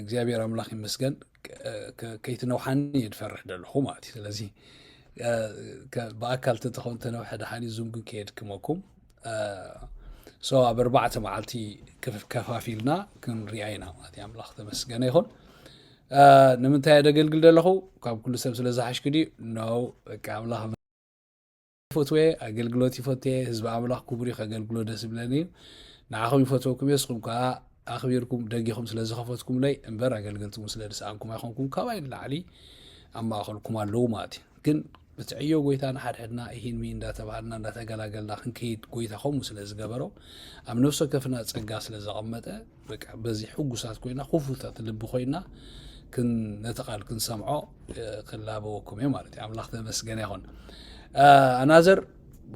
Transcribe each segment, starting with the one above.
እግዚኣብሔር ኣምላኽ ይመስገን ከይትነውሓኒ እየ ድፈርሕ ደለኹ ማለት እዩ ስለዚ ብኣካል ተተኸውን ተነውሐ ደሓን ዙም ግን ከየድክመኩም ሶ ኣብ ኣርባዕተ መዓልቲ ከፋፊልና ክንሪኣ ኢና ማለት እዩ ኣምላኽ ተመስገነ ይኹን ንምንታይ ደገልግል ደለኹ ካብ ኩሉ ሰብ ስለ ዝሓሽኩ ድዩ ኖ በቃ ኣምላኽ ይፈትወ ኣገልግሎት ይፈትየ ህዝቢ ኣምላኽ ክቡር እዩ ከገልግሎ ደስ ዝብለኒ እዩ ንዓኹም ይፈትወኩም እየ ንስኹም ከዓ ኣኽቢርኩም ደጊኹም ስለ ዝኸፈትኩምለይ እምበር ኣገልገልቲ ስለ ድሰኣንኩም ኣይኮንኩም ካባይ ንላዕሊ ኣብ ማእኸልኩም ኣለዉ ማለት እዩ ግን እቲ ዕዮ ጎይታ ንሓድሕድና ይሂንሚ እንዳተባሃልና እንዳተገላገልና ክንከይድ ጎይታ ከምኡ ስለ ዝገበሮ ኣብ ነፍሲ ወከፍና ፀጋ ስለ ዘቐመጠ በቃ በዚ ሕጉሳት ኮይና ክፉታት ልቢ ኮይና ነቲ ቃል ክንሰምዖ ክላበወኩም እየ ማለት እዩ ኣምላኽ ተመስገነ ይኹን ኣናዘር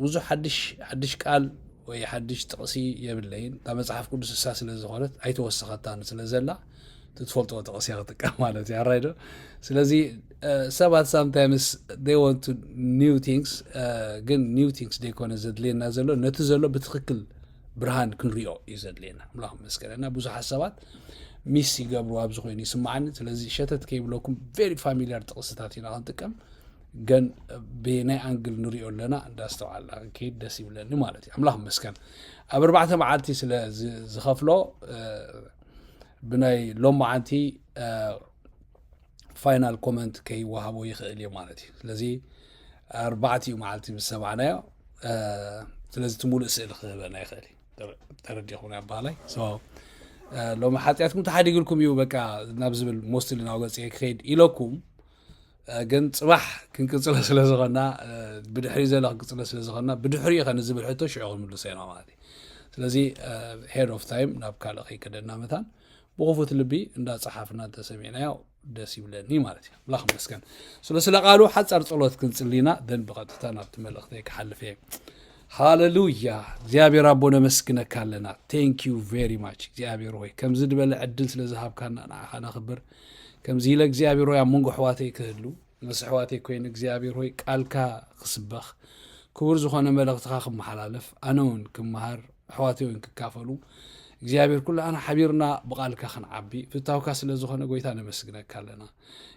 ብዙሕ ሓድሽ ሓድሽ ቃል ወይ ሓድሽ ጥቕሲ የብለይን እታ መፅሓፍ ቅዱስ እሳ ስለ ዝኾነት ኣይተወሰኸታን ስለ ዘላ ትፈልጦ ጥቕሲ ክጥቀም ማለት እዩ ኣራይዶ ስለዚ ሰባት ሳምታይምስ ይ ወንቱ ኒው ቲንግስ ግን ኒው ቲንግስ ዘይኮነ ዘድልየና ዘሎ ነቲ ዘሎ ብትክክል ብርሃን ክንሪኦ እዩ ዘድልየና ኣምላኽ መስገን እና ብዙሓት ሰባት ሚስ ይገብሩ ኣብዚ ኮይኑ ይስምዓኒ ስለዚ ሸተት ከይብለኩም ቨሪ ፋሚሊያር ጥቕስታት ኢና ክንጥቀም ግን ብናይ ኣንግል ንሪኦ ኣለና እንዳስተውዓልና ክንከይድ ደስ ይብለኒ ማለት እዩ ኣምላኽ መስገን ኣብ ኣርባዕተ መዓልቲ ስለ ዝኸፍሎ ብናይ ሎመዓንቲ ፋይናል ኮመንት ከይወሃቦ ይኽእል እዩ ማለት እዩ ስለዚ ኣርባዕት እዩ መዓልቲ ምስ ሰማዕናዮ ስለዚ እቲ ሙሉእ ስእሊ ክህበና ይኽእል እዩ ተረዲኹም ኣባሃላይ ሎሚ ሓጢኣትኩም ተሓዲግልኩም እዩ በቃ ናብ ዝብል ሞስትሊ ናብ ገፅ ክኸይድ ኢለኩም ግን ፅባሕ ክንቅፅለ ስለ ዝኾና ብድሕሪ ዘሎ ክንቅፅለ ስለ ዝኾና ብድሕሪ ኸ ንዝብል ሕቶ ሽዑ ክንምልሶ ኢና ማለት እዩ ስለዚ ሄድ ኦፍ ታይም ናብ ካልእ ከይከደና መታን ብክፉት ልቢ እንዳ ጸሓፍና እንተሰሚዕናዮ ደስ ይብለኒ ማለት እዩ ኣምላኽ መስገን ስለ ስለ ቃሉ ሓጻር ጸሎት ክንጽሊና ደን ብቐጥታ ናብቲ መልእኽተይ ክሓልፍ እየ ሃለሉያ እግዚኣብሔር ኣቦ ነመስግነካ ኣለና ቴንክ ዩ ቨሪ ማች እግዚኣብሔር ሆይ ከምዚ ድበለ ዕድል ስለ ዝሃብካና ንዓኻ ነኽብር ከምዚ ኢለ እግዚኣብሔር ሆይ ኣብ መንጎ ኣሕዋተይ ክህሉ ምስ ኣሕዋተይ ኮይነ እግዚኣብሔር ሆይ ቃልካ ክስበኽ ክቡር ዝኾነ መልእኽትኻ ክመሓላለፍ ኣነ እውን ክመሃር ኣሕዋተይ እውን ክካፈሉ እግዚኣብሔር ኩላህና ሓቢርና ብቃልካ ክንዓቢ ፍታውካ ስለ ዝኾነ ጎይታ ነመስግነካ ኣለና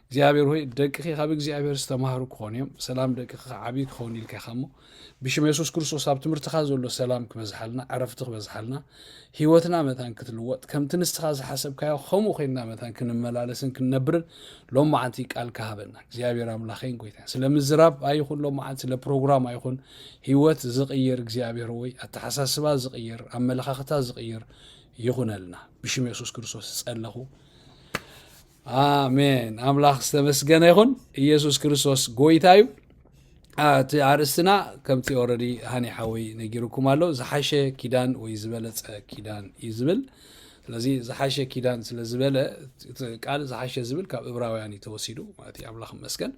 እግዚኣብሔር ሆይ ደቅኺ ካብ እግዚኣብሔር ዝተማሃሩ ክኾኑ እዮም ብሰላም ደቅኺ ክዓብዩ ክኸውን ኢልካ ኢኻ እሞ ብሽም የሱስ ክርስቶስ ኣብ ትምህርትኻ ዘሎ ሰላም ክበዝሓልና ዕረፍቲ ክበዝሓልና ህይወትና መታን ክትልወጥ ከምቲ ንስኻ ዝሓሰብካዮ ከምኡ ኮይንና መታን ክንመላለስን ክንነብርን ሎም መዓንቲ ቃል ካሃበና እግዚኣብሔር ኣምላኸይን ጎይታን ስለ ምዝራብ ኣይኹን ሎም መዓንቲ ስለ ፕሮግራም ኣይኹን ህይወት ዝቕይር እግዚኣብሔር ወይ ኣተሓሳስባ ዝቕይር ኣመለኻኽታ ዝቕይር ይኹነልና ብሽም የሱስ ክርስቶስ ዝጸለኹ ኣሜን ኣምላኽ ዝተመስገነ ይኹን ኢየሱስ ክርስቶስ ጎይታ እዩ እቲ ኣርእስትና ከምቲ ኦረዲ ሃኒ ሓወይ ነጊርኩም ኣሎ ዝሓሸ ኪዳን ወይ ዝበለፀ ኪዳን እዩ ዝብል ስለዚ ዝሓሸ ኪዳን ስለ ዝበለ ቃል ዝሓሸ ዝብል ካብ እብራውያን እዩ ተወሲዱ ማለት እዩ ኣምላኽ መስገን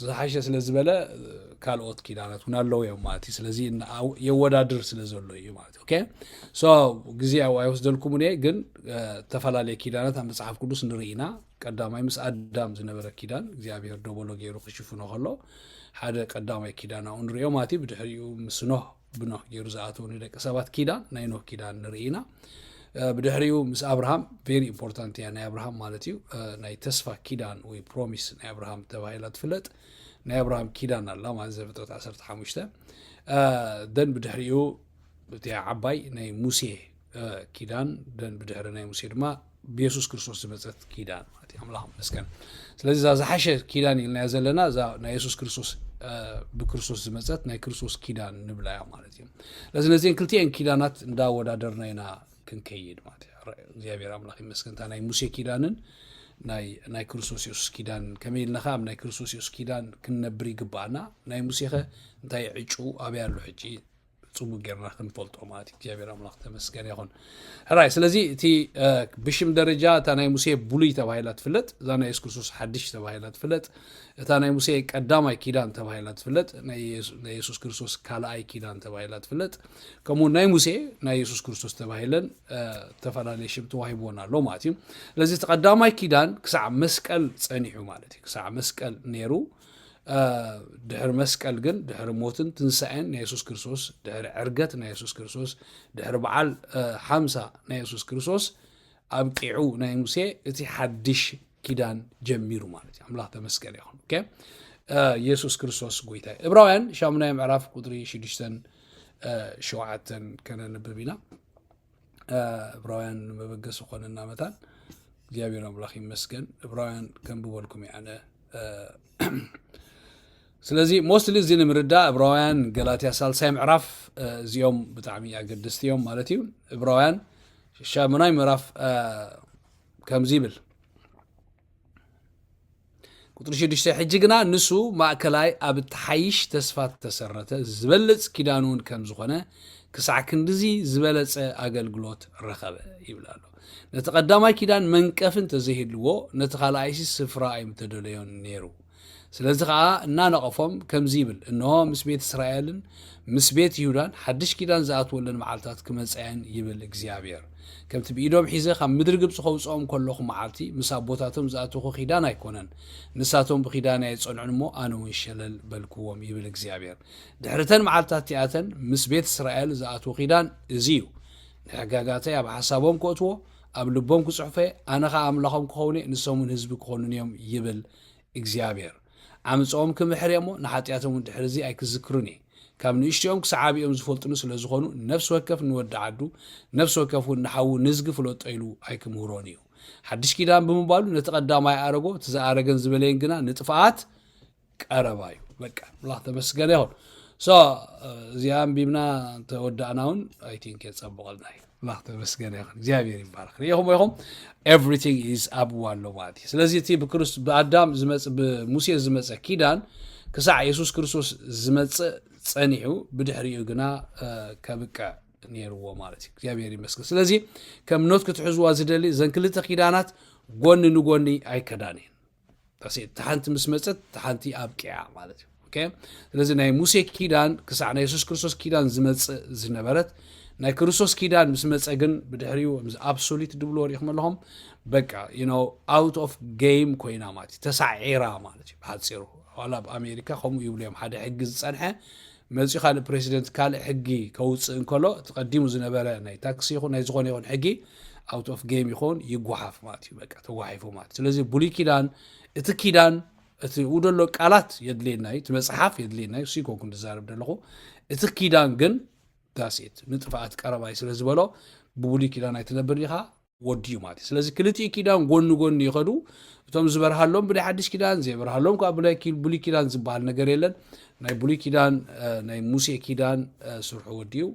ዝሓሸ ስለ ዝበለ ካልኦት ኪዳናት እውን ኣለዉ እዮም ማለት እዩ ስለዚ የወዳድር ስለ ዘሎ እዩ ማለት ኦኬ ሶ ግዜ ያው ኣይወስደልኩምን እየ ግን እ፣ ዝተፈላለየ ኪዳናት ኣብ መጽሓፍ ቅዱስ ንርኢ ኢና ቀዳማይ ምስ ኣዳም ዝነበረ ኪዳን እግዚኣብሔር ደበሎ ገይሩ ክሽፍኖ ከሎ ሓደ ቀዳማይ ኪዳን ኣብኡ ንሪኦ ማለት እዩ ብድሕሪኡ ምስ ኖህ ብኖህ ገይሩ ዝኣተው ንደቂ ሰባት ኪዳን ናይ ኖህ ኪዳን ንርኢ ኢና እ፣ ብድሕሪኡ ምስ ኣብርሃም ቬሪ ኢምፖርታንት እያ ናይ ኣብርሃም ማለት እዩ እ፣ ናይ ተስፋ ኪዳን ወይ ፕሮሚስ ናይ ኣብርሃም ተባሂላ ትፍለጥ ናይ ኣብርሃም ኪዳን ኣላ ማለት ዘፍጥረት 15 ደን ብድሕሪኡ እቲ ዓባይ ናይ ሙሴ ኪዳን ደን ብድሕሪ ናይ ሙሴ ድማ ብየሱስ ክርስቶስ ዝመፀት ኪዳን ማለት እዩ ኣምላኽ መስገን ስለዚ እዛ ዝሓሸ ኪዳን ኢልናዮ ዘለና እዛ ናይ የሱስ ክርስቶስ ብክርስቶስ ዝመፀት ናይ ክርስቶስ ኪዳን ንብላ እያ ማለት እዩ ስለዚ ነዚን ክልቲኤን ኪዳናት እንዳወዳደርና ኢና ክንከይድ ማለት እዩ እግዚኣብሔር ኣምላኽ ይመስገን እታ ናይ ሙሴ ኪዳንን ናይ ክርስቶስ የሱስ ኪዳን ከመይ ኢልና ከ ኣብ ናይ ክርስቶስ የሱስ ኪዳን ክንነብር ይግባኣና ናይ ሙሴ ከ እንታይ ዕጩ ኣበይ ኣሎ ሕጂ ፅቡቅ ጌርና ክንፈልጦ ማለት እዩ እግዚኣብሔር ኣምላኽ ተመስገን ይኹን ሕራይ ስለዚ እቲ ብሽም ደረጃ እታ ናይ ሙሴ ብሉይ ተባሂላ ትፍለጥ እዛ ናይ የሱስ ክርስቶስ ሓድሽ ተባሂላ ትፍለጥ እታ ናይ ሙሴ ቀዳማይ ኪዳን ተባሂላ ትፍለጥ ናይ የሱስ ክርስቶስ ካልኣይ ኪዳን ተባሂላ ትፍለጥ ከምኡ ናይ ሙሴ ናይ የሱስ ክርስቶስ ተባሂለን ዝተፈላለየ ሽም ተዋሂብዎን ኣሎ ማለት እዩ ስለዚ እቲ ቀዳማይ ኪዳን ክሳዕ መስቀል ፀኒሑ ማለት እዩ ክሳዕ መስቀል ነይሩ ድሕሪ መስቀል ግን ድሕሪ ሞትን ትንሳኤን ናይ የሱስ ክርስቶስ ድሕሪ ዕርገት ናይ የሱስ ክርስቶስ ድሕሪ በዓል ሓምሳ ናይ የሱስ ክርስቶስ ኣብቂዑ ናይ ሙሴ እቲ ሓድሽ ኪዳን ጀሚሩ ማለት እዩ ኣምላኽ ተመስገን ይኹን የሱስ ክርስቶስ ጎይታ እዩ እብራውያን ሻሙናይ ምዕራፍ ቁጥሪ ሽዱሽተን ሸውዓተን ከነንብብ ኢና እብራውያን ንመበገሲ ኮነና መታን እግዚኣብሔር ኣምላኽ ይመስገን እብራውያን ከንብበልኩም እዩ ኣነ ስለዚ ሞስትሊ እዚ ንምርዳእ እብራውያን ገላትያ ሳልሳይ ምዕራፍ እዚኦም ብጣዕሚ ኣገደስቲ እዮም ማለት እዩ እብራውያን ሻሙናይ ምዕራፍ ከምዚ ይብል ቁጥሪ ሽዱሽተ ሕጂ ግና ንሱ ማእከላይ ኣብ እትሓይሽ ተስፋ እተሰረተ ዝበልፅ ኪዳን እውን ከም ዝኾነ ክሳዕ ክንዲዚ ዝበለፀ ኣገልግሎት ረኸበ ይብል ኣሎ ነቲ ቀዳማይ ኪዳን መንቀፍን ተዘይህልዎ ነቲ ካልኣይሲ ስፍራ ኣይምተደለዮን ነይሩ ስለዚ ኸኣ እናነቐፎም ከምዚ ይብል፣ እንሆ፣ ምስ ቤት እስራኤልን ምስ ቤት ይሁዳን ሓድሽ ኪዳን ዝኣትወለን መዓልትታት ክመጻ እየን ይብል እግዚኣብሄር። ከምቲ ብኢዶም ሒዘ ካብ ምድሪ ግብጺ ከውጽኦም ከለኹ መዓልቲ፣ ምስ ኣቦታቶም ዝኣተኹ ኪዳን ኣይኰነን። ንሳቶም ብኪዳነይ ኣይጸንዑን እሞ፣ ኣነ እውን ሸለል በልክዎም ይብል እግዚኣብሄር። ድሕሪ እተን መዓልትታት እቲኣተን ምስ ቤት እስራኤል ዝኣትዎ ኪዳን እዚ እዩ። ንሕጋጋተይ ኣብ ሓሳቦም ከእትዎ፣ ኣብ ልቦም ክጽሕፎ እየ፣ ኣነ ኸኣ ኣምላኾም ክኸውን እየ፣ ንሶም እውን ህዝቢ ክዀኑኒ እዮም ይብል እግዚኣብሔር ዓምጸኦም ክምሕር እየ'ሞ ንሓጥያቶም'ውን ድሕርዚ ኣይክዝክሩን እየ። ካብ ንእሽቶኦም ክሳዕ ዓቢኦም ዝፈልጡኒ ስለ ዝኾኑ ነፍሲ ወከፍ ንወዲ ዓዱ ነፍሲ ወከፍ'ውን ንሓዉ ንዝጊ ፍለጦ ኢሉ ኣይክምህሮን እዩ። ሓድሽ ኪዳን ብምባሉ ነቲ ቀዳማይ ኣረጎ እቲ ዝኣረገን ዝበለየን ግና ንጥፍኣት ቀረባ እዩ። በቃ ኣምላኽ ተመስገነ ይኹን። ሶ እዚኣ ኣንቢብና እንተወዳእና እውን ኣይ ቲንክ የጸብቐልና እዩ። ኣምላኽ ተመስገነ ይኹን እግዚኣብሔር ይባረክ ሪኢኹም ኢኹም ኤቭሪቲንግ ኢዝ ኣብኡ ኣሎ ማለት እዩ ስለዚ እቲ ብኣዳም ዝመፅ ብሙሴ ዝመፀ ኪዳን ክሳዕ የሱስ ክርስቶስ ዝመፅእ ፀኒሑ ብድሕሪኡ ግና ከብቅዕ ነይርዎ ማለት እዩ እግዚኣብሔር ይመስገን ስለዚ ከም ኖት ክትሕዝዋ ዝደሊ እዘን ክልተ ኪዳናት ጎኒ ንጎኒ ኣይከዳን እየን ዳሴት እታ ሓንቲ ምስ መፀት እታ ሓንቲ ኣብቂዓ ማለት እዩ ኦኬ ስለዚ ናይ ሙሴ ኪዳን ክሳዕ ናይ የሱስ ክርስቶስ ኪዳን ዝመፅእ ዝነበረት ናይ ክርስቶስ ኪዳን ምስ መፀ ግን ብድሕሪኡ ምስ ኣብሶሊት ድብልዎ ሪኢኹም ኣለኹም በቃ ዩኖ ኣውት ኦፍ ጌም ኮይና ማለት እዩ ተሳዒራ ማለት እዩ ብሓፂሩ ዋላ ኣብ ኣሜሪካ ከምኡ ይብሉ እዮም ሓደ ሕጊ ዝፀንሐ መጺኡ ካልእ ፕረሲደንት ካልእ ሕጊ ከውጽእ እንከሎ እቲ ቀዲሙ ዝነበረ ናይ ታክሲ ይኹን ናይ ዝኾነ ይኹን ሕጊ ኣውት ኦፍ ጌም ይኹን ይጓሓፍ ማለት እዩ በቃ ተጓሒፉ ማለት ስለዚ ብሉይ ኪዳን እቲ ኪዳን እቲ ኡ ደሎ ቃላት የድልየና እዩ እቲ መጽሓፍ የድልየና እዩ እሱ ኮንኩ ዝዛረብ ደለኹ እቲ ኪዳን ግን ዳሴት ንጥፍኣት ቀረባይ ስለ ዝበሎ ብብሉይ ኪዳን ኣይትነብር ኢኻ ወዲ እዩ ማለት እዩ ስለዚ ክልቲኡ ኪዳን ጎኒ ጎኒ ይኸዱ እቶም ዝበርሃሎም ብናይ ሓድሽ ኪዳን ዘይበርሃሎም ከዓ ብናይ ብሉይ ኪዳን ዝበሃል ነገር የለን ናይ ብሉይ ኪዳን ናይ ሙሴ ኪዳን ስርሑ ወዲ እዩ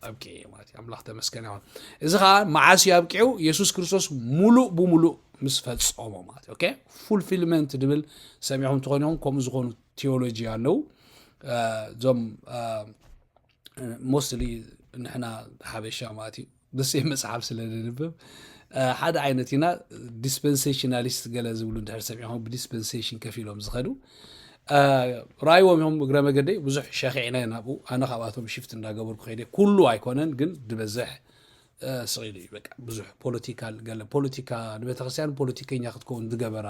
ኣብቂዑ እዩ ማለት እዩ ኣምላኽ ተመስገን ይኹን እዚ ከዓ መዓስ እዩ ኣብቂዑ የሱስ ክርስቶስ ሙሉእ ብሙሉእ ምስ ፈፀሞ ማለት እዩ ኦኬ ፉልፊልመንት ድብል ሰሚዕኹም ትኾን ይኹም ከምኡ ዝኾኑ ቴዎሎጂ ኣለዉ እዞም ሞስትሊ ንሕና ሓበሻ ማለት እዩ ብስም መጽሓፍ ስለ ንንብብ ሓደ ዓይነት ኢና ዲስፐንሴሽናሊስት ገለ ዝብሉ እንድሕር ሰሚዕኹም ብዲስፐንሴሽን ከፍ ኢሎም ዝኸዱ ራይዎም እዮም እግረ መገደይ ብዙሕ ሸኺዕና ናብኡ ኣነ ካብኣቶም ሽፍት እንዳገበርኩ ከይደ ኩሉ ኣይኮነን ግን ድበዝሕ ስቂሉ እዩ በቃ ብዙሕ ፖለቲካል ገለ ፖለቲካ ንቤተክርስትያን ፖለቲከኛ ክትከውን ዝገበራ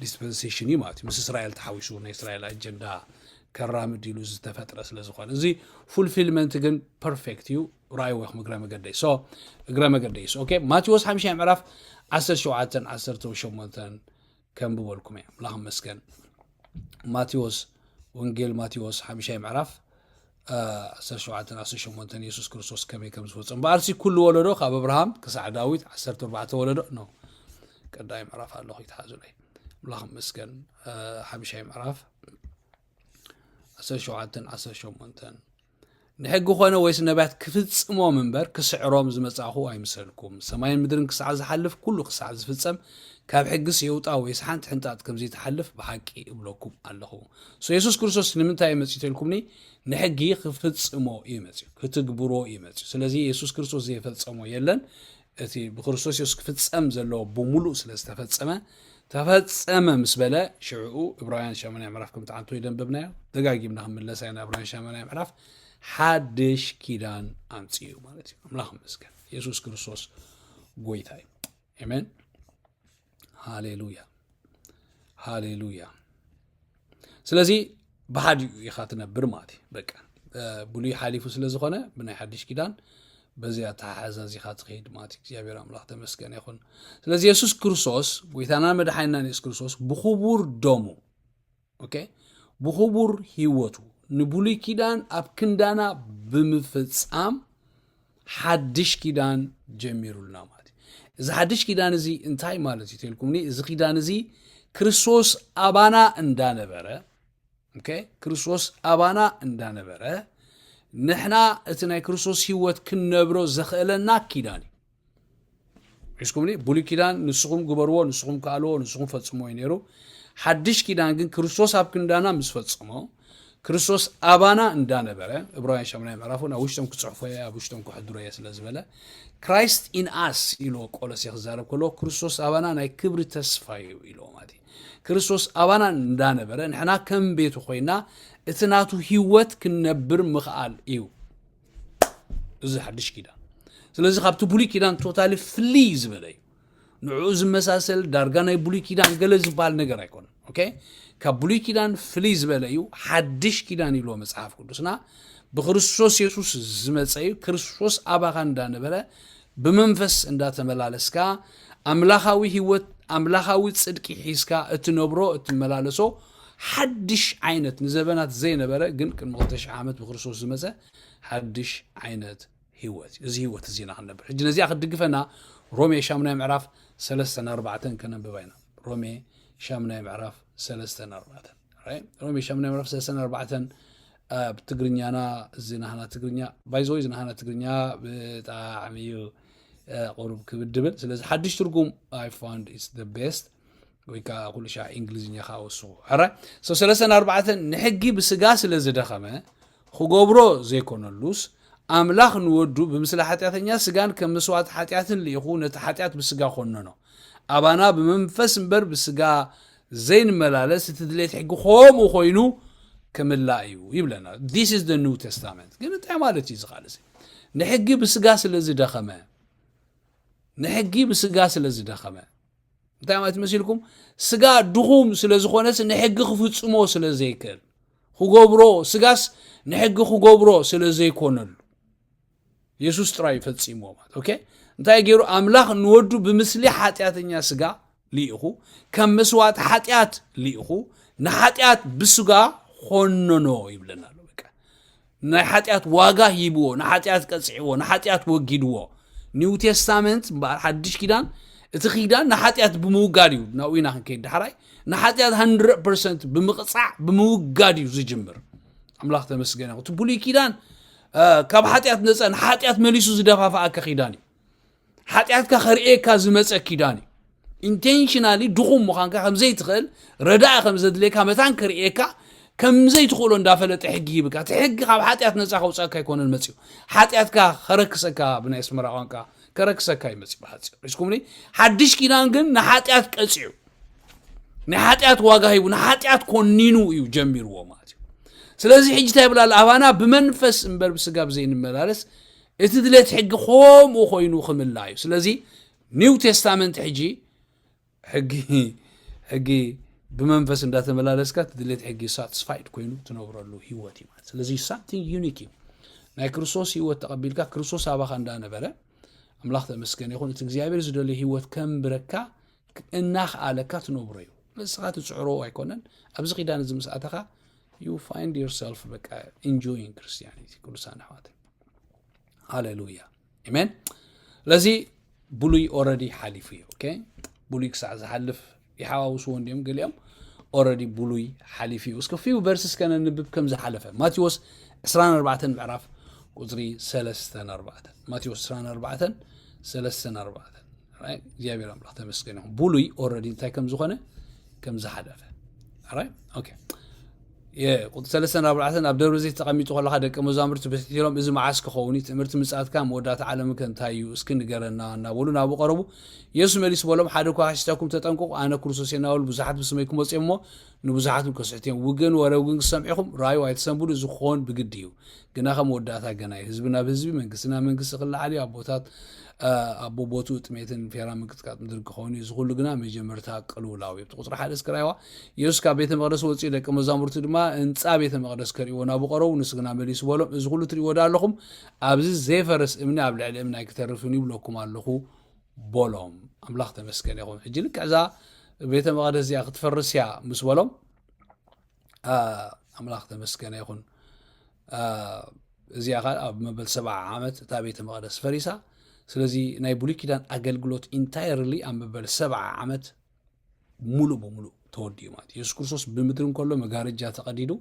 ዲስፐንሴሽን እዩ ማለት እዩ ምስ እስራኤል ተሓዊሱ ናይ እስራኤል ኣጀንዳ ከራምድ ኢሉ ዝተፈጥረ ስለዝኾነ እዚ ፉልፊልመንት ግን ፐርፌክት እዩ ራይ ወይኹም እግረ መገደይ ሶ እግረ መገደይ ሶ ኦኬ ማቴዎስ ሓምሻይ ምዕራፍ ዓሰርተ ሸውዓተን ዓሰርተ ሸሞንተን ከንብበልኩም እየ ኣምላኽ መስገን ማቴዎስ ወንጌል ማቴዎስ ሓምሻይ ምዕራፍ ዓሰርተ ሸውዓተን ዓሰርተ ሸሞንተን የሱስ ክርስቶስ ከመይ ከም ዝፈፀም በኣርሲ ኩሉ ወለዶ ካብ ኣብርሃም ክሳዕ ዳዊት ዓሰርተ ኣርባዕተ ወለዶ ኖ ቀዳይ ምዕራፍ ኣለኹ ይትሓዙለይ ኣምላኽ መስገን ሓምሻይ ምዕራፍ ዓሰርተ ሸውዓተን ዓሰርተ ሸሞንተን ንሕጊ ኮነ ወይስ ነብያት ክፍጽሞም እምበር ክስዕሮም ዝመጻእኩ ኣይምሰልኩም። ሰማይን ምድርን ክሳዕ ዝሓልፍ ኩሉ ክሳዕ ዝፍጸም ካብ ሕግስ የውጣ ወይስ ሓንቲ ሕንጣጥ ከም ዘይትሓልፍ ብሓቂ እብለኩም ኣለኹ። So የሱስ ክርስቶስ ንምንታይ እዩ መጺኡ ተልኩምኒ ንሕጊ ክፍጽሞ እዩ መጺኡ ክትግብሮ እዩ መጺኡ ስለዚ የሱስ ክርስቶስ ዘይፈጸሞ የለን እቲ ብክርስቶስ የሱስ ክፍጸም ዘለዎ ብምሉእ ስለ ዝተፈጸመ ተፈጸመ ምስ በለ ሽዕኡ እብራውያን ሻመናይ ምዕራፍ ከምቲ ዓንቶ ይደንበብናዮ ደጋጊምና ክንምለሳ ኢና እብራውያን ሻመናይ ምዕራፍ ሓድሽ ኪዳን ኣምፅኡ ማለት እዩ ኣምላኽ መስገን የሱስ ክርስቶስ ጎይታ እዩ ኣሜን ሃሌሉያ ሃሌሉያ ስለዚ ብሓዲ ኢኻ ትነብር ማለት እዩ በቃ ብሉይ ሓሊፉ ስለ ዝኾነ ብናይ ሓድሽ ኪዳን በዚ ኣተሓሓዛ እዚኻ ትኸይድ ማለት እዩ እግዚኣብሔር ኣምላኽ ተመስገነ ይኹን ስለዚ የሱስ ክርስቶስ ጎይታና መድሓኒናን የሱስ ክርስቶስ ብኽቡር ደሙ ኦኬ ብኽቡር ህይወቱ ንብሉይ ኪዳን ኣብ ክንዳና ብምፍጻም ሓድሽ ኪዳን ጀሚሩልና ማለት እዚ ሓድሽ ኪዳን እዚ እንታይ ማለት እዩ ተልኩምኒ እዚ ኪዳን እዚ ክርስቶስ ኣባና እንዳነበረ ክርስቶስ ኣባና እንዳነበረ ንሕና እቲ ናይ ክርስቶስ ህይወት ክንነብሮ ዘኽእለና ኪዳን እዩ ሒዝኩምኒ ብሉይ ኪዳን ንስኹም ግበርዎ ንስኹም ከኣልዎ ንስኹም ፈጽሞ እዩ ነይሩ ሓድሽ ኪዳን ግን ክርስቶስ ኣብ ክንዳና ምስ ፈጽሞ ክርስቶስ ኣባና እንዳነበረ እብራውያን ሸምናይ ምዕራፉን ኣብ ውሽጦም ክጽሕፎ እየ ኣብ ውሽጦም ክሕድሮ እየ ስለ ዝበለ ክራይስት ኢን ኣስ ኢልዎ ቆሎሴ ክዛረብ ከለዎ ክርስቶስ ኣባና ናይ ክብሪ ተስፋ እዩ ኢልዎ ማለት እዩ ክርስቶስ ኣባና እንዳነበረ ንሕና ከም ቤቱ ኮይና እቲ ናቱ ህይወት ክንነብር ምኽኣል እዩ እዚ ሓድሽ ኪዳን ስለዚ ካብቲ ብሉይ ኪዳን ቶታሊ ፍልይ ዝበለ እዩ ንዕኡ ዝመሳሰል ዳርጋ ናይ ብሉይ ኪዳን ገለ ዝበሃል ነገር ኣይኮነን ኦኬ ካብ ብሉይ ኪዳን ፍልይ ዝበለ እዩ ሓድሽ ኪዳን ኢልዎ መፅሓፍ ቅዱስና ብክርስቶስ የሱስ ዝመፀ እዩ ክርስቶስ ኣባኻ እንዳነበረ ብመንፈስ እንዳተመላለስካ ኣምላኻዊ ህይወት ኣምላኻዊ ፅድቂ ሒዝካ እትነብሮ እትመላለሶ ሓድሽ ዓይነት ንዘበናት ዘይነበረ ግን ቅድሚ ክልተ ሽሕ ዓመት ብክርስቶስ ዝመጸ ሓድሽ ዓይነት ህይወት እዩ። እዚ ህይወት እዚ ኢና ክንነብር። ሕጂ ነዚኣ ክትድግፈና ሮሜ ሻሙናይ ምዕራፍ ሰለስተን ኣርባዕተን ከነንብባ ኢና። ሮሜ ሻሙናይ ምዕራፍ ሰለስተን ኣርባዕተን ሮሜ ሻሙናይ ምዕራፍ ሰለስተን ኣርባዕተን ብትግርኛና እዚ ናህና ትግርኛ ባይዘወይ እዚ ናህና ትግርኛ ብጣዕሚ እዩ ቁሩብ ክብድ ብል ስለዚ ሓድሽ ትርጉም ኣይ ፋንድ ኢስ ደ ቤስት ወይ ከዓ ኩሉ ሻዕ እንግሊዝኛ ከዓ ወስኹ ሕረ ሰው ሰለስተን ኣርባዕተን ንሕጊ ብስጋ ስለ ዝደኸመ ክገብሮ ዘይኮነሉስ ኣምላኽ ንወዱ ብምስለ ሓጢኣተኛ ስጋን ከም መስዋዕቲ ሓጢኣትን ልኢኹ ነቲ ሓጢኣት ብስጋ ኮነኖ ኣባና ብመንፈስ እምበር ብስጋ ዘይንመላለስ እቲ ድሌት ሕጊ ከምኡ ኮይኑ ክምላእ እዩ ይብለና ዚስ ኢዝ ኒው ተስታመንት ግን እንታይ ማለት እዩ ዝቃል እዚ ንሕጊ ብስጋ ስለ ዝደኸመ ንሕጊ ብስጋ ስለ ዝደኸመ እንታይ ማለት መሲልኩም ስጋ ድኹም ስለ ዝኾነስ ንሕጊ ክፍጽሞ ስለ ዘይክእል ክገብሮ ስጋስ ንሕጊ ክገብሮ ስለ ዘይኮነሉ የሱስ ጥራይ እዩ ፈጺምዎ ማለት ኦኬ እንታይ ገይሩ ኣምላኽ ንወዱ ብምስሊ ሓጢኣተኛ ስጋ ልኢኹ ከም መስዋእቲ ሓጢኣት ልኢኹ ንሓጢኣት ብስጋ ኾነኖ ይብለና ኣሎ በቃ ንናይ ሓጢኣት ዋጋ ሂብዎ፣ ንሓጢኣት ቀጺዕዎ፣ ንሓጢኣት ወጊድዎ። ኒው ቴስታመንት እምበኣር ሓድሽ ኪዳን እቲ ኪዳን ንሓጢኣት ብምውጋድ እዩ ናብኡ ኢና ክንከይድ ዳሕራይ ንሓጢኣት 100 ፐርሰንት ብምቕጻዕ ብምውጋድ እዩ ዝጅምር ኣምላኽ ተመስገነ እቲ ብሉይ ኪዳን ካብ ሓጢኣት ነፃ ንሓጢኣት መሊሱ ዝደፋፍኣካ ኪዳን እዩ ሓጢኣትካ ከርእየካ ዝመፀ ኪዳን እዩ ኢንቴንሽናሊ ድኹም ምዃንካ ከም ዘይትኽእል ረዳኢ ከም ዘድልየካ መታን ከርእየካ ከም ዘይትኽእሎ እንዳፈለጠ ሕጊ ይብካ እቲ ሕጊ ካብ ሓጢኣት ነፃ ከውፃእካ ኣይኮነን መፅኡ ሓጢኣትካ ከረክሰካ ብናይ ኣስመራ ቋንቃ ከረክሰካ እዩ መፅኡ ብሓፂር ሪስኩምኒ ሓድሽ ኪዳን ግን ንሓጢኣት ቀፂዑ ናይ ሓጢኣት ዋጋ ሂቡ ንሓጢኣት ኮኒኑ እዩ ጀሚርዎ ማለት እዩ ስለዚ ሕጂ እንታይ ይብላ ኣባና ብመንፈስ እምበር ብስጋ ብዘይንመላለስ እቲ ድሌት ሕጊ ከምኡ ኮይኑ ክምላ እዩ ስለዚ ኒው ቴስታመንት ሕጂ ሕጊ ሕጊ ብመንፈስ እንዳተመላለስካ እቲ ድሌት ሕጊ ሳትስፋይድ ኮይኑ ትነብረሉ ህይወት እዩ ማለት ስለዚ ሳምቲንግ ዩኒክ እዩ ናይ ክርስቶስ ህይወት ተቐቢልካ ክርስቶስ ኣባኻ እንዳነበረ ኣምላኽ ተመስገን ይኹን እቲ እግዚኣብሔር ዝደልዩ ህይወት ከምብረካ እናኽኣለካ ትነብሮ እዩ ንስኻ ትፅዕሮ ኣይኮነን ኣብዚ ኪዳን እዚ ምስ ኣተኻ ዩ ፋይንድ ዮርሰልፍ በቃ ኢንጆይን ክርስቲያኒቲ ቅዱሳን ኣሕዋተይ ሃሌሉያ ኣሜን ስለዚ ብሉይ ኦረዲ ሓሊፉ እዩ ኦኬ ብሉይ ክሳዕ ዝሓልፍ ይሓዋውስዎ እንዲዮም ገሊኦም ኦረዲ ብሉይ ሓሊፉ እዩ እስከ ፊው ቨርስ እስከ ነንብብ ከም ዝሓለፈ ማቴዎስ 24 ምዕራፍ ቁፅሪ 34 ማቴዎስ 24 34 right? እግዚኣብሔር ኣምላኽ ተመስገን ይኹን ብሉይ ኦረዲ እንታይ ከም ዝኾነ ከም ዝሓለፈ right? okay እየ። ቁጽሪ ሰለስተን ኣርባዕተን ኣብ ደብረ ዘይት ተቐሚጡ ከለኻ ደቀ መዛሙርቲ ብሕትሒሮም እዚ መዓስ ክኸውን እዩ ትእምርቲ ምጽኣትካን መወዳእታ ዓለምን ከ እንታይ እዩ እስኪ ንገረና እናበሉ ናብኡ ቀረቡ የሱስ መሊሱ በሎም ሓደ እኳ ከሕሽተኩም ተጠንቀቑ ኣነ ክርስቶስ እየ እናበሉ ብዙሓት ብስመይ ክመጹ እዮም እሞ ንብዙሓት እውን ከስሕቱ እዮም ውግእን ወረ ውግእን ክሰምዑ ኢኹም ራዩ ኣይትሰንብዱ እዚ ክኾን ብግዲ እዩ ግና ከ መወዳእታ ገና እዩ። ህዝቢ ናብ ህዝቢ፣ መንግስቲ ናብ መንግስቲ ክለዓል እዩ። ኣቦታት ኣቦ ቦትኡ ጥሜትን ፌራ ምንቅጥቃጥ ምድሪ ክኸውን እዩ። እዚ ኩሉ ግና መጀመርታ ቅልውላው እዩ። ቁፅሪ ሓደ እስኪ ራይዋ ኢየሱስ ካብ ቤተ መቅደስ ወፂኡ ደቂ መዛሙርቱ ድማ ህንፃ ቤተ መቅደስ ከርእይዎ ናብኡ ቀረቡ። ንሱ ግና መሊሱ በሎም እዚ ኩሉ ትርእይዎ ዶ ኣለኹም? ኣብዚ ዘይፈርስ እምኒ ኣብ ልዕሊ እምኒ ኣይክተርፍን እዩ ብለኩም ኣለኹ በሎም። ኣምላኽ ተመስገን ይኹን። ሕጂ ልክዕ እዛ ቤተ መቅደስ እዚኣ ክትፈርስ እያ ምስ በሎም ኣምላኽ ተመስገነ ይኹን እዚኣ ኸ ኣብ መበል ሰብዓ ዓመት እታ ቤተ መቕደስ ፈሪሳ ስለዚ ናይ ብሉይ ኪዳን ኣገልግሎት ኢንታይርሊ ኣብ መበል ሰብዓ ዓመት ሙሉእ ብምሉእ ተወዲኡ ማለት የሱስ ክርስቶስ ብምድሪ እንከሎ መጋረጃ ተቐዲዱ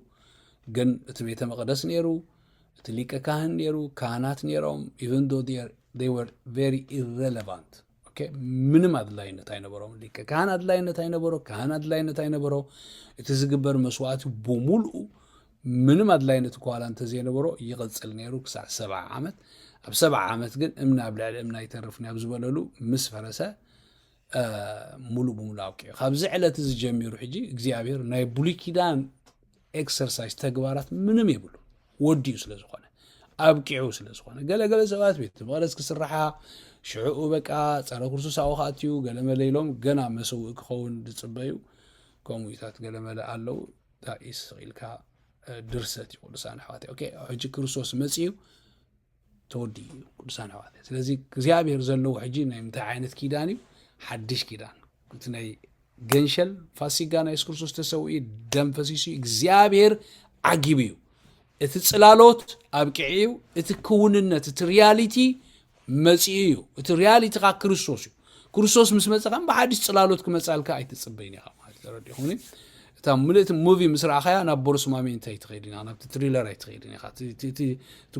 ግን እቲ ቤተ መቕደስ ነይሩ እቲ ሊቀ ካህን ነይሩ ካህናት ነይሮም ኢቨን ዶ ር ቨሪ ኢረለቫንት ኦኬ፣ ምንም ኣድላይነት ኣይነበሮም። ሊቀ ካህን ኣድላይነት ኣይነበሮ፣ ካህን ኣድላይነት ኣይነበሮ። እቲ ዝግበር መስዋእቲ ብምልኡ ምንም ኣድላይነት እኳ ዋላ እንተዘይነበሮ ይቕጽል ነይሩ ክሳዕ ሰብዓ ዓመት። ኣብ ሰብዓ ዓመት ግን እምኒ ኣብ ልዕሊ እምኒ ኣይተርፍን ኣብ ዝበለሉ ምስ ፈረሰ አ፣ ሙሉእ ብምሉእ ኣብቂዑ። ካብዚ ዕለት እዚ ጀሚሩ ሕጂ እግዚኣብሔር ናይ ብሉይ ኪዳን ኤክሰርሳይዝ ተግባራት ምንም የብሉ ወዲኡ ስለ ዝኾነ ኣብቂዑ ስለ ዝኾነ ገለገለ ሰባት ቤት መቕደስ ክስራሓ ሽዕኡ በቃ ፀረ ክርስቶስ ኣብኡ ክኣትዩ ገለመለ ኢሎም ገና መሰውኢ ክኸውን ዝፅበዩ ከምኡታት ገለመለ ኣለው ዳኢስ ኢልካ ድርሰት እዩ ቅዱሳን ኣሕዋት ኦኬ ሕጂ ክርስቶስ መፅኡ ተወዲ እዩ ቅዱሳን ኣሕዋት ስለዚ እግዚኣብሔር ዘለዎ ሕጂ ናይ ምንታይ ዓይነት ኪዳን እዩ ሓድሽ ኪዳን እቲ ናይ ገንሸል ፋሲጋ ናይ የሱስ ክርስቶስ ተሰውኢ ደም ፈሲሱ እግዚኣብሔር ዓጊቡ እዩ እቲ ፅላሎት ኣብቂዑ እዩ እቲ ክውንነት እቲ ሪያሊቲ መፂኡ እዩ እቲ ሪያሊቲ ከዓ ክርስቶስ እዩ ክርስቶስ ምስ መፀ ከም ብሓድሽ ፅላሎት ክመፃልካ ኣይትፅበይን ኢኻ ማለት ተረዲኹኒ እታ ምልእቲ ሙቪ ምስ ረኣኻያ ናብ ቦርስማሚ እንታይ ትኸይድ ኢና ናብቲ ትሪለር ኣይትኸይድን ኢኻ እቲ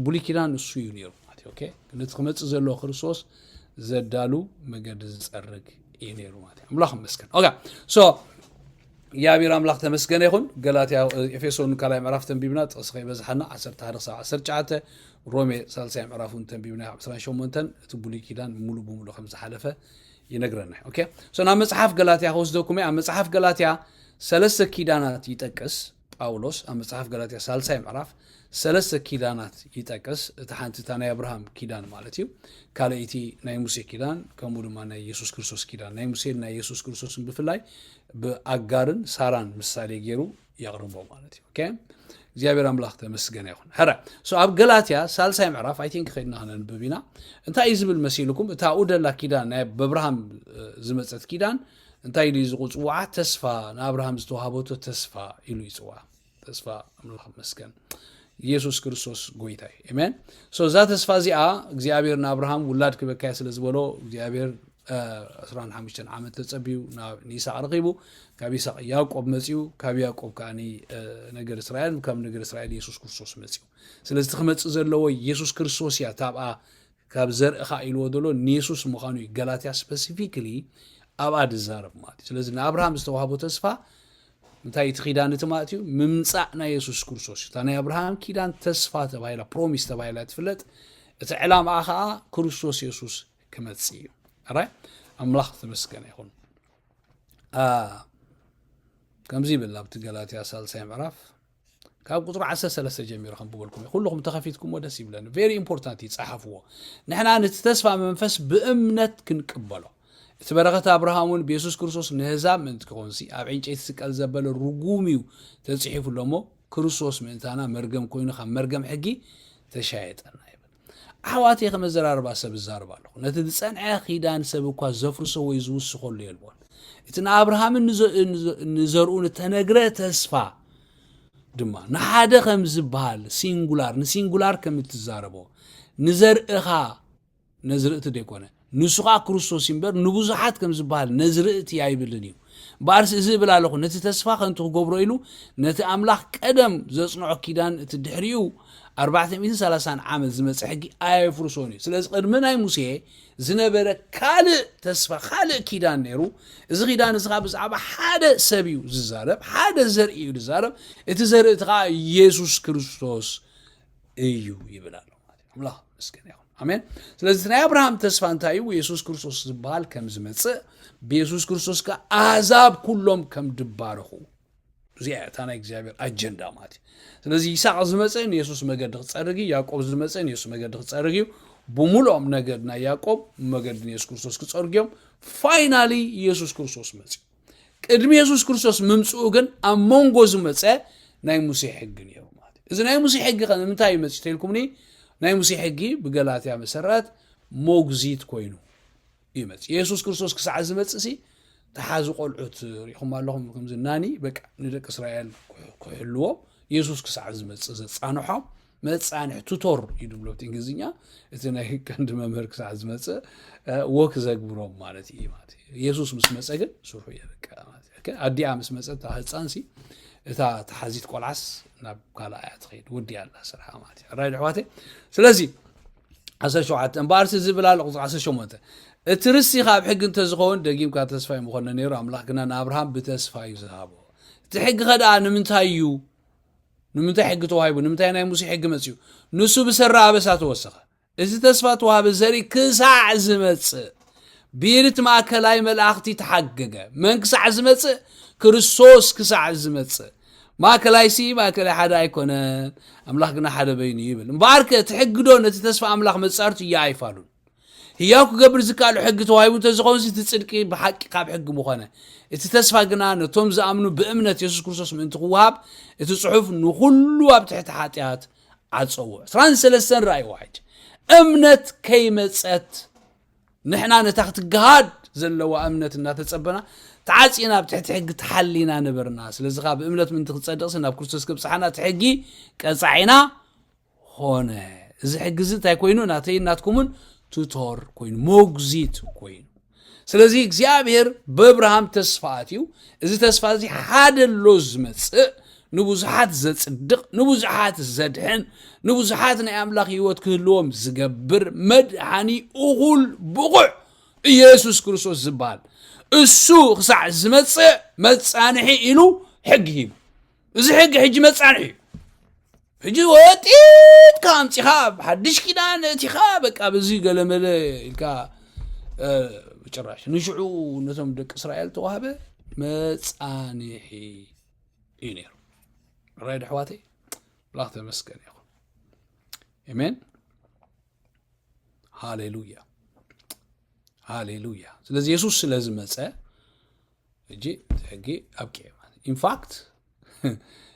ብሉይ ኪዳን እሱ እዩ ነይሩ ማለት ኦኬ ነቲ ክመፅእ ዘለዎ ክርስቶስ ዘዳሉ መገዲ ዝፀርግ እዩ ነይሩ ማለት እዩ ኣምላኽ መስገን ኦኬ ሶ እግዚኣብሔር ኣምላክ ተመስገነ ይኹን ገላትያ ኤፌሶን ካልኣይ ምዕራፍ ተንቢብና ጥቕሲ ከይበዝሓና 11-19 ሮሜ ሳልሳይ ምዕራፍ እውን ተንቢብና 28 እቲ ብሉይ ኪዳን ሙሉ ብሙሉ ከም ዝሓለፈ ይነግረና ኦኬ ሶ ናብ መጽሓፍ ገላትያ ከወስደኩም ኣብ መጽሓፍ ገላትያ ሰለስተ ኪዳናት ይጠቅስ ጳውሎስ ኣብ መጽሓፍ ገላትያ ሳልሳይ ምዕራፍ ሰለስተ ኪዳናት ይጠቅስ እቲ ሓንቲ እታ ናይ ኣብርሃም ኪዳን ማለት እዩ ካልኣይቲ ናይ ሙሴ ኪዳን ከምኡ ድማ ናይ የሱስ ክርስቶስ ኪዳን ናይ ሙሴን ናይ የሱስ ክርስቶስን ብፍላይ ብኣጋርን ሳራን ምሳሌ ገይሩ የቕርቦ ማለት እዩ እግዚኣብሔር ኣምላኽ ተመስገነ ይኹን ሕረ ኣብ ገላትያ ሳልሳይ ምዕራፍ ኣይቲንክ ከድና ክነንብብ ኢና እንታይ እዩ ዝብል መሲልኩም እታ ኣብኡ ደላ ኪዳን ናይ በብርሃም ዝመፀት ኪዳን እንታይ ድዩ ዝቁፅውዓ ተስፋ ንኣብርሃም ዝተዋሃበቶ ተስፋ ኢሉ ይፅውዓ ተስፋ ኣምላኽ መስገን ኢየሱስ ክርስቶስ ጎይታ እዩ ኤሜን ሶ እዛ ተስፋ እዚኣ እግዚኣብሔር ንኣብርሃም ውላድ ክበካየ ስለ ዝበሎ እግዚኣብሔር 25 ዓመት ተፀቢዩ ንይስቅ ረኪቡ ካብ ይስቅ ያቆብ መፅኡ ካብ ያቆብ ከዓ ነገር እስራኤል ካብ ነገር እስራኤል የሱስ ክርስቶስ መፅኡ ስለዚ ክመፅእ ዘለዎ የሱስ ክርስቶስ እያ ታብኣ ካብ ዘርእኻ ኢልዎ ዘሎ ንየሱስ ምዃኑ እዩ ገላትያ ስፐሲፊክሊ ኣብኣ ዝዛረብ ማለት እዩ ስለዚ ንኣብርሃም ዝተዋህቦ ተስፋ እንታይ እቲ ኪዳን እቲ ማለት እዩ ምምፃእ ናይ የሱስ ክርስቶስ እታ ናይ ኣብርሃም ኪዳን ተስፋ ተባሂላ ፕሮሚስ ተባሂላ ትፍለጥ እቲ ዕላማኣ ከዓ ክርስቶስ የሱስ ክመፅ እዩ ራይ ኣምላኽ ተመስገነ ይኹን ከምዚ ይብል ኣብቲ ገላትያ ሳልሳይ ምዕራፍ ካብ ቁፅሪ ዓሰርተ ሰለስተ ጀሚሩ ከንብበልኩም እዩ ኩልኹም ተኸፊትኩሞ ደስ ይብለኒ ቬሪ ኢምፖርታንት እዩ ጸሓፍዎ ንሕና ነቲ ተስፋ መንፈስ ብእምነት ክንቅበሎ እቲ በረኸት ኣብርሃም እውን ብየሱስ ክርስቶስ ንህዛብ ምእንቲ ክኾንሲ ኣብ ዕንጨይቲ ስቀል ዘበለ ርጉም እዩ ተጽሒፉ ኣሎ እሞ ክርስቶስ ምእንታና መርገም ኮይኑ ካብ መርገም ሕጊ ተሻየጠና ይብል ኣሕዋተይ ከም ኣዘራርባ ሰብ እዛረብ ኣለኹ ነቲ ዝጸንዐ ኺዳን ሰብ እኳ ዘፍርሶ ወይ ዝውስኸሉ የልቦን እቲ ንኣብርሃምን ንዘርኡን እተነግረ ተስፋ ድማ ንሓደ ከም ዝበሃል ሲንጉላር ንሲንጉላር ከም እትዛረቦ ንዘርእኻ ነዝርእቲ ደይኮነ ንሱ ኸኣ ክርስቶስ እዩ እምበር፣ ንብዙሓት ከም ዝበሃል ነዝርእቲ ኣይብልን እዩ። እምበኣርስ እዚ እብል ኣለኹ፣ ነቲ ተስፋ ኸንቱ ኽገብሮ ኢሉ፣ ነቲ ኣምላኽ ቀደም ዘጽንዖ ኪዳን፣ እቲ ድሕሪኡ ኣርባዕተ ሚእትን ሰላሳን ዓመት ዝመጸ ሕጊ ኣየፍርሶን እዩ። ስለዚ ቕድሚ ናይ ሙሴ ዝነበረ ካልእ ተስፋ፣ ኻልእ ኪዳን ነይሩ። እዚ ኺዳን እዚ ኸኣ ብዛዕባ ሓደ ሰብ እዩ ዚዛረብ፣ ሓደ ዘርኢ እዩ ዚዛረብ፣ እቲ ዘርእቲ ኸኣ የሱስ ክርስቶስ እዩ ይብል ኣሎ። ኣምላኽ ምስገን ይኹን ኣሜን ስለዚ ናይ ኣብርሃም ተስፋ እንታይ እዩ የሱስ ክርስቶስ ዝበሃል ከም ዝመፅእ ብየሱስ ክርስቶስ ከ ኣህዛብ ኩሎም ከም ድባረኹ እዚኣ እታ ናይ እግዚኣብሔር ኣጀንዳ ማለት እዩ ስለዚ ይስቅ ዝመፀ ንየሱስ መገዲ ክፀርግ እዩ ያዕቆብ ዝመፀ ንየሱስ መገዲ ክፀርግ እዩ ብምሉኦም ነገድ ናይ ያዕቆብ መገዲ ንየሱስ ክርስቶስ ክፀርግ እዮም ፋይናሊ የሱስ ክርስቶስ መፅኡ ቅድሚ የሱስ ክርስቶስ ምምጽኡ ግን ኣብ መንጎ ዝመጸ ናይ ሙሴ ሕጊ ነይሩ ማለት እዩ እዚ ናይ ሙሴ ሕጊ ከ ንምንታይ እዩ መጺኡ ተልኩምኒ ናይ ሙሴ ሕጊ ብገላትያ መሰረት ሞግዚት ኮይኑ እዩ መጽእ የሱስ ክርስቶስ ክሳዕ ዝመጽእ ሲ ተሓዚ ቆልዑት ሪኢኹም ኣለኹም ከምዚ ናኒ በቃ ንደቂ እስራኤል ክሕልዎም የሱስ ክሳዕ ዝመጽእ ዘጻንሖም መጻንሕ ቱቶር እዩ ድብሎ እንግሊዝኛ እቲ ናይ ቀንዲ መምህር ክሳዕ ዝመፀ ወክ ዘግብሮም ማለት እዩ ማለት እዩ የሱስ ምስ መፀ ግን ስርሑ የበቃ ማለት እዩ ኣዲኣ ምስ መፀት እታ ህፃንሲ እታ ተሓዚት ቆልዓስ ናብ ካልኣ እያ ትኸይድ ወዲያ ኣላ ስርሓ ማለት እዩ ሕራይ ኣሕዋተ ስለዚ ዓሰርተ ሸውዓተ እምበኣርሲ ዝብል ኣሎ ቁፅሪ ዓሰርተ ሸሞንተ እቲ ርስቲ ካብ ሕጊ እንተዝኸውን ደጊምካ ተስፋ እዩ ምኾነ ነይሩ ኣምላኽ ግና ንኣብርሃም ብተስፋ እዩ ዝሃቦ እቲ ሕጊ ኸደኣ ንምንታይ እዩ ንምንታይ ሕጊ ተዋሂቡ? ንምንታይ ናይ ሙሴ ሕጊ መጺኡ? ንሱ ብሰራ ኣበሳ ተወሰኸ። እዚ ተስፋ ተዋህበ ዘርኢ ክሳዕ ዝመጽእ ብኢድት ማእከላይ መልኣኽቲ ተሓገገ። መን ክሳዕ ዝመጽእ? ክርስቶስ ክሳዕ ዝመጽእ። ማእከላይሲ ማእከላይ ሓደ ኣይኮነን፣ ኣምላኽ ግና ሓደ በይኑ እዩ ይብል። እምበኣርከ እቲ ሕጊዶ ነቲ ተስፋ ኣምላኽ መጻርቱ እያ ኣይፋሉን። ህያው ክገብር ዝከኣሎ ሕጊ ተዋሂቡ እንተዝኸውንሲ እቲ ጽድቂ ብሓቂ ካብ ሕጊ ምኾነ። እቲ ተስፋ ግና ነቶም ዝኣምኑ ብእምነት የሱስ ክርስቶስ ምእንቲ ክወሃብ እቲ ጽሑፍ ንኹሉ ኣብ ትሕቲ ሓጢኣት ዓጸዎ። ዕስራን ሰለስተን ራእይ ዋሕድ እምነት ከይመጸት ንሕና ነታ ክትገሃድ ዘለዋ እምነት እናተጸበና ተዓጺና ኣብ ትሕቲ ሕጊ ተሓሊና ነበርና። ስለዚ ከኣ ብእምነት ምእንቲ ክጸድቕሲ ናብ ክርስቶስ ከብጽሓና እቲ ሕጊ ቀጻዒና ኾነ። እዚ ሕጊ እዚ እንታይ ኮይኑ ናተይን ናትኩምን ቱቶር ኮይኑ ሞግዚት ኮይኑ ስለዚ እግዚኣብሔር በብርሃም ተስፋ ኣትዩ እዚ ተስፋ እዚ ሓደ ኣሎ ዝመፅእ ንብዙሓት ዘፅድቕ ንብዙሓት ዘድሕን ንብዙሓት ናይ ኣምላኽ ህይወት ክህልዎም ዝገብር መድሓኒ እኹል ብቑዕ ኢየሱስ ክርስቶስ ዝበሃል እሱ ክሳዕ ዝመፅእ መፃንሒ ኢሉ ሕጊ ሂቡ እዚ ሕጊ ሕጂ መጻንሒ እዩ ሕጂ ወጢጥካ ኣምፂኻ ኣብ ሓድሽ ኪዳን እቲኻ በቃ ብዚ ገለመለ ኢልካ ጭራሽ ንሽዑ ነቶም ደቂ እስራኤል ተዋህበ መጻንሒ እዩ ነይሩ ራይ ድሕዋተይ ኣምላኽ ተመስገን ይኹን ኤሜን ሃሌሉያ ሃሌሉያ ስለዚ የሱስ ስለ ዝመፀ ሕጂ እቲ ሕጊ ኣብቂዑ ማለት ኢንፋክት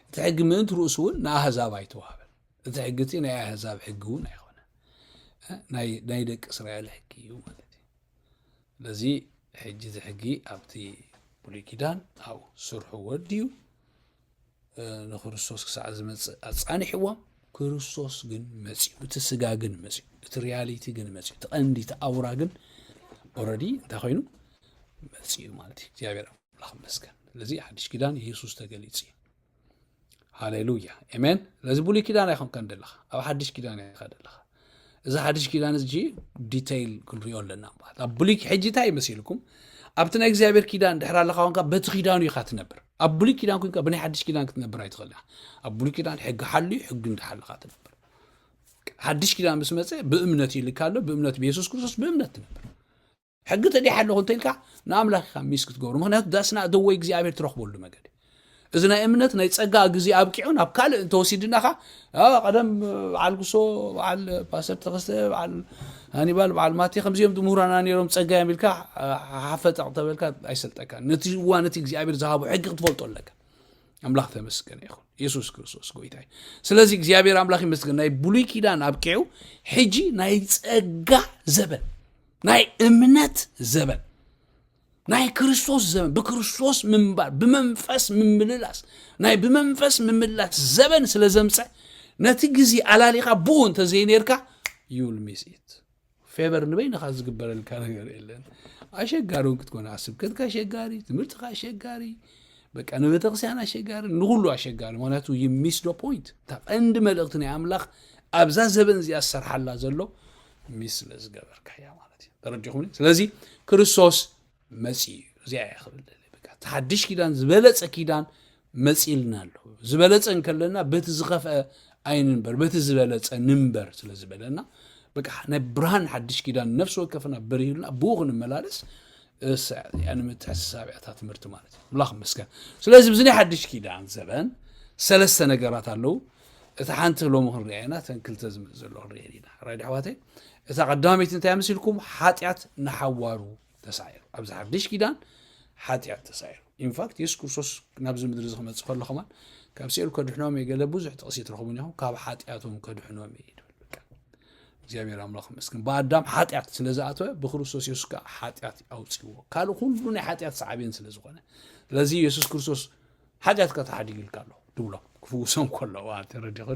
እቲ ሕጊ ምእንቲ ርእሱ እውን ንኣህዛብ ኣይተዋህበን እቲ ሕጊ እቲ ናይ ኣህዛብ ሕጊ እውን ኣይኮነ ናይ ደቂ እስራኤል ሕጊ እዩ ማለት እዩ ስለዚ ሕጂ እቲ ሕጊ ኣብቲ ብሉይ ኪዳን ኣብኡ ስርሑ ወድዩ ንክርስቶስ ክሳዕ ዝመፅእ ኣፃኒሕዎም ክርስቶስ ግን መፅኡ እቲ ስጋ ግን መፅኡ እቲ ሪያሊቲ ግን መፅኡ እቲ ቀንዲ እቲ ኣውራ ግን ኦረዲ እንታይ ኮይኑ መፅኡ ማለት እዩ እግዚኣብሔር ኣምላኽ መስገን ስለዚ ሓድሽ ኪዳን የሱስ ተገሊፅ እዩ ሃሌሉያ ኤሜን ስለዚ ብሉይ ኪዳን ኣይኮንካን ደለኻ ኣብ ሓድሽ ኪዳን ኢኻ ደለኻ እዚ ሓድሽ ኪዳን እዚ ዲተይል ክንሪኦ ኣለና ማለት ኣብ ብሉይ ሕጂ እንታይ ይመስልኩም ኣብቲ ናይ እግዚኣብሔር ኪዳን ድሕር ኣለካ ኮንካ በቲ ኪዳኑ ኢካ ትነብር ኣብ ብሉይ ኪዳን ኮንካ ብናይ ሓድሽ ኪዳን ክትነብር ኣይትኽእል ኢካ ኣብ ብሉይ ኪዳን ሕጊ ሓልዩ ሕጊ እንዳሓለካ ትነብር ሓድሽ ኪዳን ምስ መፀ ብእምነት ይልካ ኣሎ ብእምነት ብየሱስ ክርስቶስ ብእምነት ትነብር ሕጊ ተዲሕ ኣለኹ እንተልካ ንኣምላኽ ኢኻ ሚስ ክትገብሩ ምክንያቱ ዳስና ደወይ እግዚኣብሔር ትረኽበሉ መገዲ እዚ ናይ እምነት ናይ ጸጋ ግዜ ኣብቂዑ ናብ ካልእ እንተወሲድናኻ ቀደም በዓል ጉሶ በዓል ፓስተር ተኸስተ በዓል ሃኒባል በዓል ማቴ ከምዚኦም ድምሁራና ነይሮም ጸጋ እዮም ኢልካ ሓፈጠቕ ተበልካ ኣይሰልጠካ ነቲ እዋን እቲ እግዚኣብሔር ዝሃቦ ሕጊ ክትፈልጦ ኣለካ ኣምላኽ ተመስገነ ይኹን የሱስ ክርስቶስ ጎይታ እዩ ስለዚ እግዚኣብሔር ኣምላኽ ይመስገን ናይ ብሉይ ኪዳን ኣብቂዑ ሕጂ ናይ ጸጋ ዘበን ናይ እምነት ዘበን ናይ ክርስቶስ ዘበን ብክርስቶስ ምንባር ብመንፈስ ምምልላስ ናይ ብመንፈስ ምምላስ ዘበን ስለ ዘምፀ ነቲ ግዜ ኣላሊኻ ብኡ እንተዘይነርካ ዩል ሚስ ኢት ፌቨር ንበይንኻ ዝግበረልካ ነገር የለን ኣሸጋሪ እውን ክትኮነ ስብከትካ ኣሸጋሪ ትምህርትካ ኣሸጋሪ በቃ ንቤተክርስቲያን ኣሸጋሪ ንኩሉ ኣሸጋሪ ምክንያቱ ይሚስ ዶ ፖይንት እታ ቀንዲ መልእክቲ ናይ ኣምላኽ ኣብዛ ዘበን እዚኣ ዝሰርሓላ ዘሎ ሚስ ስለ ዝገበርካያ ማለት እዩ ተረዲኹምኒ ስለዚ ክርስቶስ መፂኡ እዩ እዚኣ እያ ክብል ደለ በቃ እቲ ሓድሽ ኪዳን ዝበለፀ ኪዳን መፂልና ኣሎ ዝበለፀ እንከለና በቲ ዝኸፍአ ኣይንንበር በቲ ዝበለፀ ንንበር ስለ ዝበለና በቃ ናይ ብርሃን ሓድሽ ኪዳን ነፍሲ ወከፍና በሪህልና ብኡ ክንመላለስ እሳ- ያኒ ምትሕስሳብ እያ እታ ትምህርቲ ማለት እዩ ኣምላኽ መስገን ስለዚ ብዚ ናይ ሓድሽ ኪዳን ዘበን ሰለስተ ነገራት ኣለዉ እታ ሓንቲ ሎሚ ክንሪኣ ኢና እተን ክልተ ዝምፅ ዘሎ ክንሪኤን ኢና ራይድ ኣሕዋተይ እታ ቀዳመይቲ እንታይ መሲልኩም ሓጢኣት ንሓዋሩ ተሳዒሩ ኣብዚ ሓድሽ ኪዳን ሓጢኣት ተሳዒሩ ኢንፋክት የሱስ ክርስቶስ ናብዚ ምድሪ እዚ ክመፅእ ከሎ ከማን ካብ ስኤል ከድሕኖም እየ ገለ ብዙሕ ጥቕሲ ትረኽቡ እኒኹም ካብ ሓጢኣቶም ከድሕኖም እየ ይብል እግዚኣብሔር ኣምላኽ መስክን ብኣዳም ሓጢኣት ስለ ዝኣተወ ብክርስቶስ የሱስ ከዓ ሓጢኣት ኣውፅዎ ካልእ ኩሉ ናይ ሓጢኣት ሰዓብን ስለ ዝኾነ ስለዚ የሱስ ክርስቶስ ሓጢኣትካ ተሓዲጉልካ ኣሎ ትብሎ ክፍውሶ ከሎ ተረዲኹ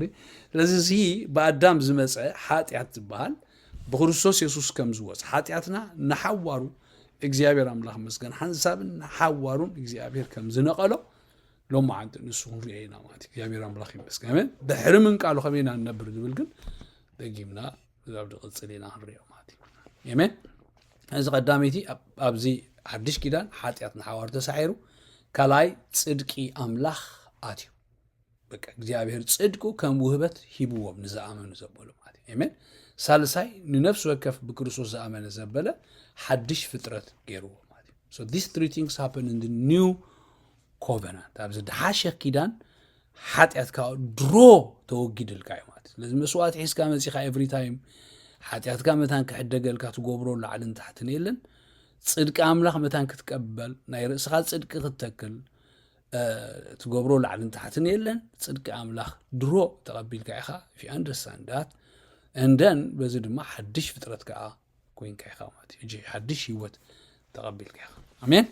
ስለዚ እዚ ብኣዳም ዝመፀ ሓጢኣት ዝበሃል ብክርስቶስ የሱስ ከም ዝወፅ ሓጢኣትና ንሓዋሩ እግዚኣብሔር ኣምላኽ መስገን ሓንሳብን ንሓዋሩን እግዚኣብሔር ከም ዝነቐሎ ሎማ ዓንቲ ንሱ ክንሪኦ ኢና ማለት እግዚኣብሔር ኣምላኽ ይመስገን ድሕሪ ምንቃሉ ከመይ ኢና ንነብር ዝብል ግን ደጊምና እዛብ ድቕፅል ኢና ክንሪኦ ማለት እዩ ኤሜን እዚ ቀዳመይቲ ኣብዚ ሓድሽ ኪዳን ሓጢኣት ንሓዋር ተሳዒሩ ካልኣይ ፅድቂ ኣምላኽ ኣትዩ በቃ እግዚኣብሔር ፅድቁ ከም ውህበት ሂብዎም ንዝኣመኑ ዘበሉ ማለት እዩ ኤሜን ሳልሳይ ንነፍሲ ወከፍ ብክርስቶስ ዝኣመነ ዘበለ ሓድሽ ፍጥረት ገይርዎ ማለት እዩ ሶ ዲስ ትሪ ቲንግስ ሃፕን ን ኒው ኮቨናንት ኣብ ዝደሓሸ ኪዳን ሓጢኣትካ ድሮ ተወጊድልካ እዩ ማለት ስለዚ መስዋእቲ ሒዝካ መፂኻ ኤቭሪ ታይም ሓጢኣትካ መታን ክሕደገልካ ትገብሮ ላዕልን ታሕትን የለን ፅድቂ ኣምላኽ መታን ክትቀበል ናይ ርእስኻ ፅድቂ ክትተክል ትገብሮ ላዕልን ታሕትን የለን ፅድቂ ኣምላኽ ድሮ ተቐቢልካ ኢኻ ፊ ኣንደርስታንዳት እንደን በዚ ድማ ሓድሽ ፍጥረት ከዓ ኮይንካ ኢኻ ማለት እዩ ሓድሽ ህይወት ተቐቢልካ ኢኻ ኣሜን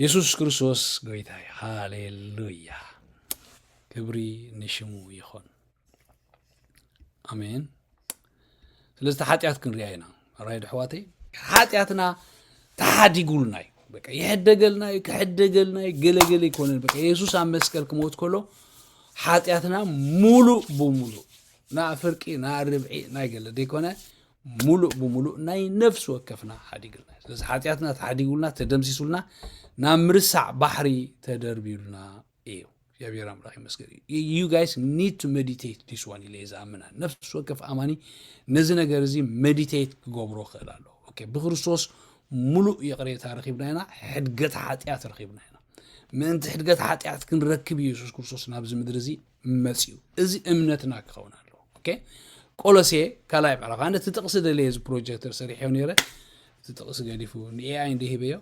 የሱስ ክርስቶስ ጎይታ እዩ ሃሌሉያ ክብሪ ንሽሙ ይኹን ኣሜን ስለዚ ሓጢኣት ክንሪኣ ኢና ራይ ድሕዋተይ ሓጢኣትና ተሓዲጉልና እዩ በቃ ይሕደገልና እዩ ክሕደገልና እዩ ገለገለ ይኮነን በቃ የሱስ ኣብ መስቀል ክሞት ከሎ ሓጢኣትና ሙሉእ ብሙሉእ ናይ ፍርቂ ናይ ርብዒ ናይ ገለ ዘይኮነ ሙሉእ ብሙሉእ ናይ ነፍሲ ወከፍና ሓዲግልና እዩ ስለዚ ሓጢኣትና ተሓዲጉልና ተደምሲሱልና ናብ ምርሳዕ ባሕሪ ተደርቢዩልና እዩ እግዚኣብሔር ኣምላኽ ይመስገን ዩ ጋይስ ኒድ ቱ ሜዲቴት ዲስ ዋን ኢለ ዝኣምና ነፍሲ ወከፍ ኣማኒ ነዚ ነገር እዚ ሜዲቴት ክገብሮ ክእል ኣሎ ኦኬ ብክርስቶስ ሙሉእ ይቕሬታ ረኺብና ኢና ሕድገት ሓጢኣት ረኺብና ኢና ምእንቲ ሕድገት ሓጢኣት ክንረክብ ኢየሱስ ክርስቶስ ናብዚ ምድሪ እዚ መፅኡ እዚ እምነትና ክኸውን ኣለዎ ኦኬ ቆሎሴ ካልኣይ ምዕራፍ ኣነ እቲ ጥቕሲ ደለየ እዚ ፕሮጀክተር ሰሪሐዮ ነይረ እቲ ጥቕሲ ገዲፉ ንኤኣይ እንደ ሂበዮ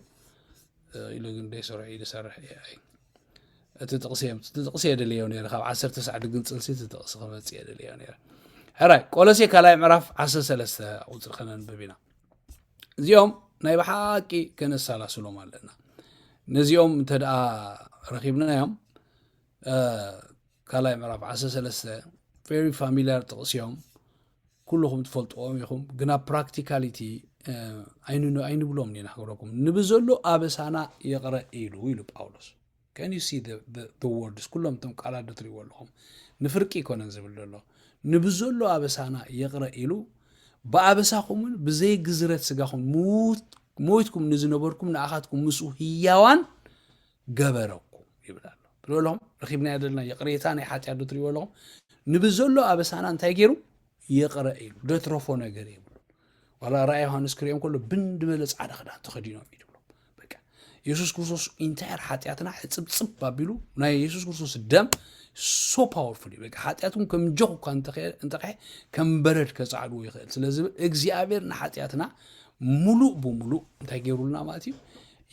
ኢሉ ግን ደይሰርሑ እዩ ዝሰርሕ ኤኣይ እቲ ጥቕሲ እዮም እቲ ጥቕሲ የደለዮ ነይረ ካብ ዓሰርተ ሰዕ ድግንፅልሲ እቲ ጥቕሲ ክመፅእ የደለዮ ነይረ ሕራይ ቆሎሴ ካልኣይ ምዕራፍ ዓሰርተ ሰለስተ ቁፅሪ ከነንብብ ኢና እዚኦም ናይ ብሓቂ ከነሰላስሎም ኣለና ነዚኦም እንተ ረኪብናዮም ካልኣይ ምዕራፍ ዓሰርተ ሰለስተ ቨሪ ፋሚልያር ጥቕሲ እዮም ኩልኹም ትፈልጥዎም ኢኹም ግና ፕራክቲካሊቲ ኣይንብሎም ኒና ክብረኩም ንብዘሎ ኣበሳና ይቕረ ኢሉ ኢሉ ጳውሎስ ከንዩሲ ወርድስ ኩሎም እቶም ቃላት ዶ ትሪእዎ ኣለኹም ንፍርቂ ይኮነን ዝብል ዘሎ ንብዘሎ ኣበሳና ይቕረ ኢሉ ብኣበሳኹምን ብዘይ ግዝረት ስጋኹም ሞይትኩም ንዝነበርኩም ንኣኻትኩም ምስኡ ህያዋን ገበረኩም ይብል ኣሎ ትብሎም ረኪብናዮ ዘለና ይቕሬታ ናይ ሓጢኣት ዶ ትሪእዎ ኣለኹም ንብዘሎ ኣበሳና እንታይ ገይሩ ይቕረ ኢሉ ደትረፎ ነገር የብሉ ዋላ ራእይ ዮሃንስ ክሪኦም ከሎ ብን ድበለ ፃዕዳ ክዳን ተኸዲኖም እዩ ትብሎ በቃ የሱስ ክርስቶስ ኢንታየር ሓጢኣትና ሕፅብፅብ ኣቢሉ ናይ የሱስ ክርስቶስ ደም ሶ ፓወርፉል እዩ በቃ ሓጢኣትኩም ከም ጆኽ እኳ እንተኸ ከም በረድ ከፃዕድዎ ይኽእል ስለዝብል እግዚኣብሔር ንሓጢኣትና ሙሉእ ብምሉእ እንታይ ገይሩልና ማለት እዩ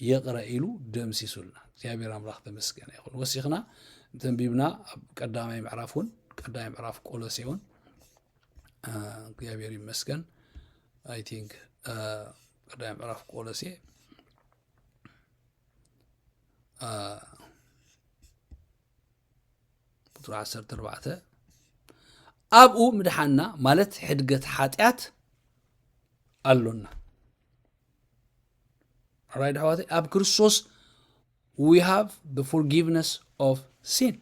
ይቕረ ኢሉ ደምሲሱልና እግዚኣብሔር ኣምላኽ ተመስገነ ይኹን። ወሲኽና ተንቢብና ኣብ ቀዳማይ ምዕራፍ እውን ቀዳማይ ምዕራፍ ቆሎሴ እውን እግዚኣብሔር ይመስገን ኣይ ቲንክ ቀዳማይ ምዕራፍ ቆሎሴ ቁጥሪ ዓሰርተ ኣርባዕተ ኣብኡ ምድሓና ማለት ሕድገት ሓጢኣት ኣሎና ራይድ ኣሕዋተይ ኣብ ክርስቶስ ዊ ሃቭ ደ ፎርጊቭነስ ኦፍ ሲን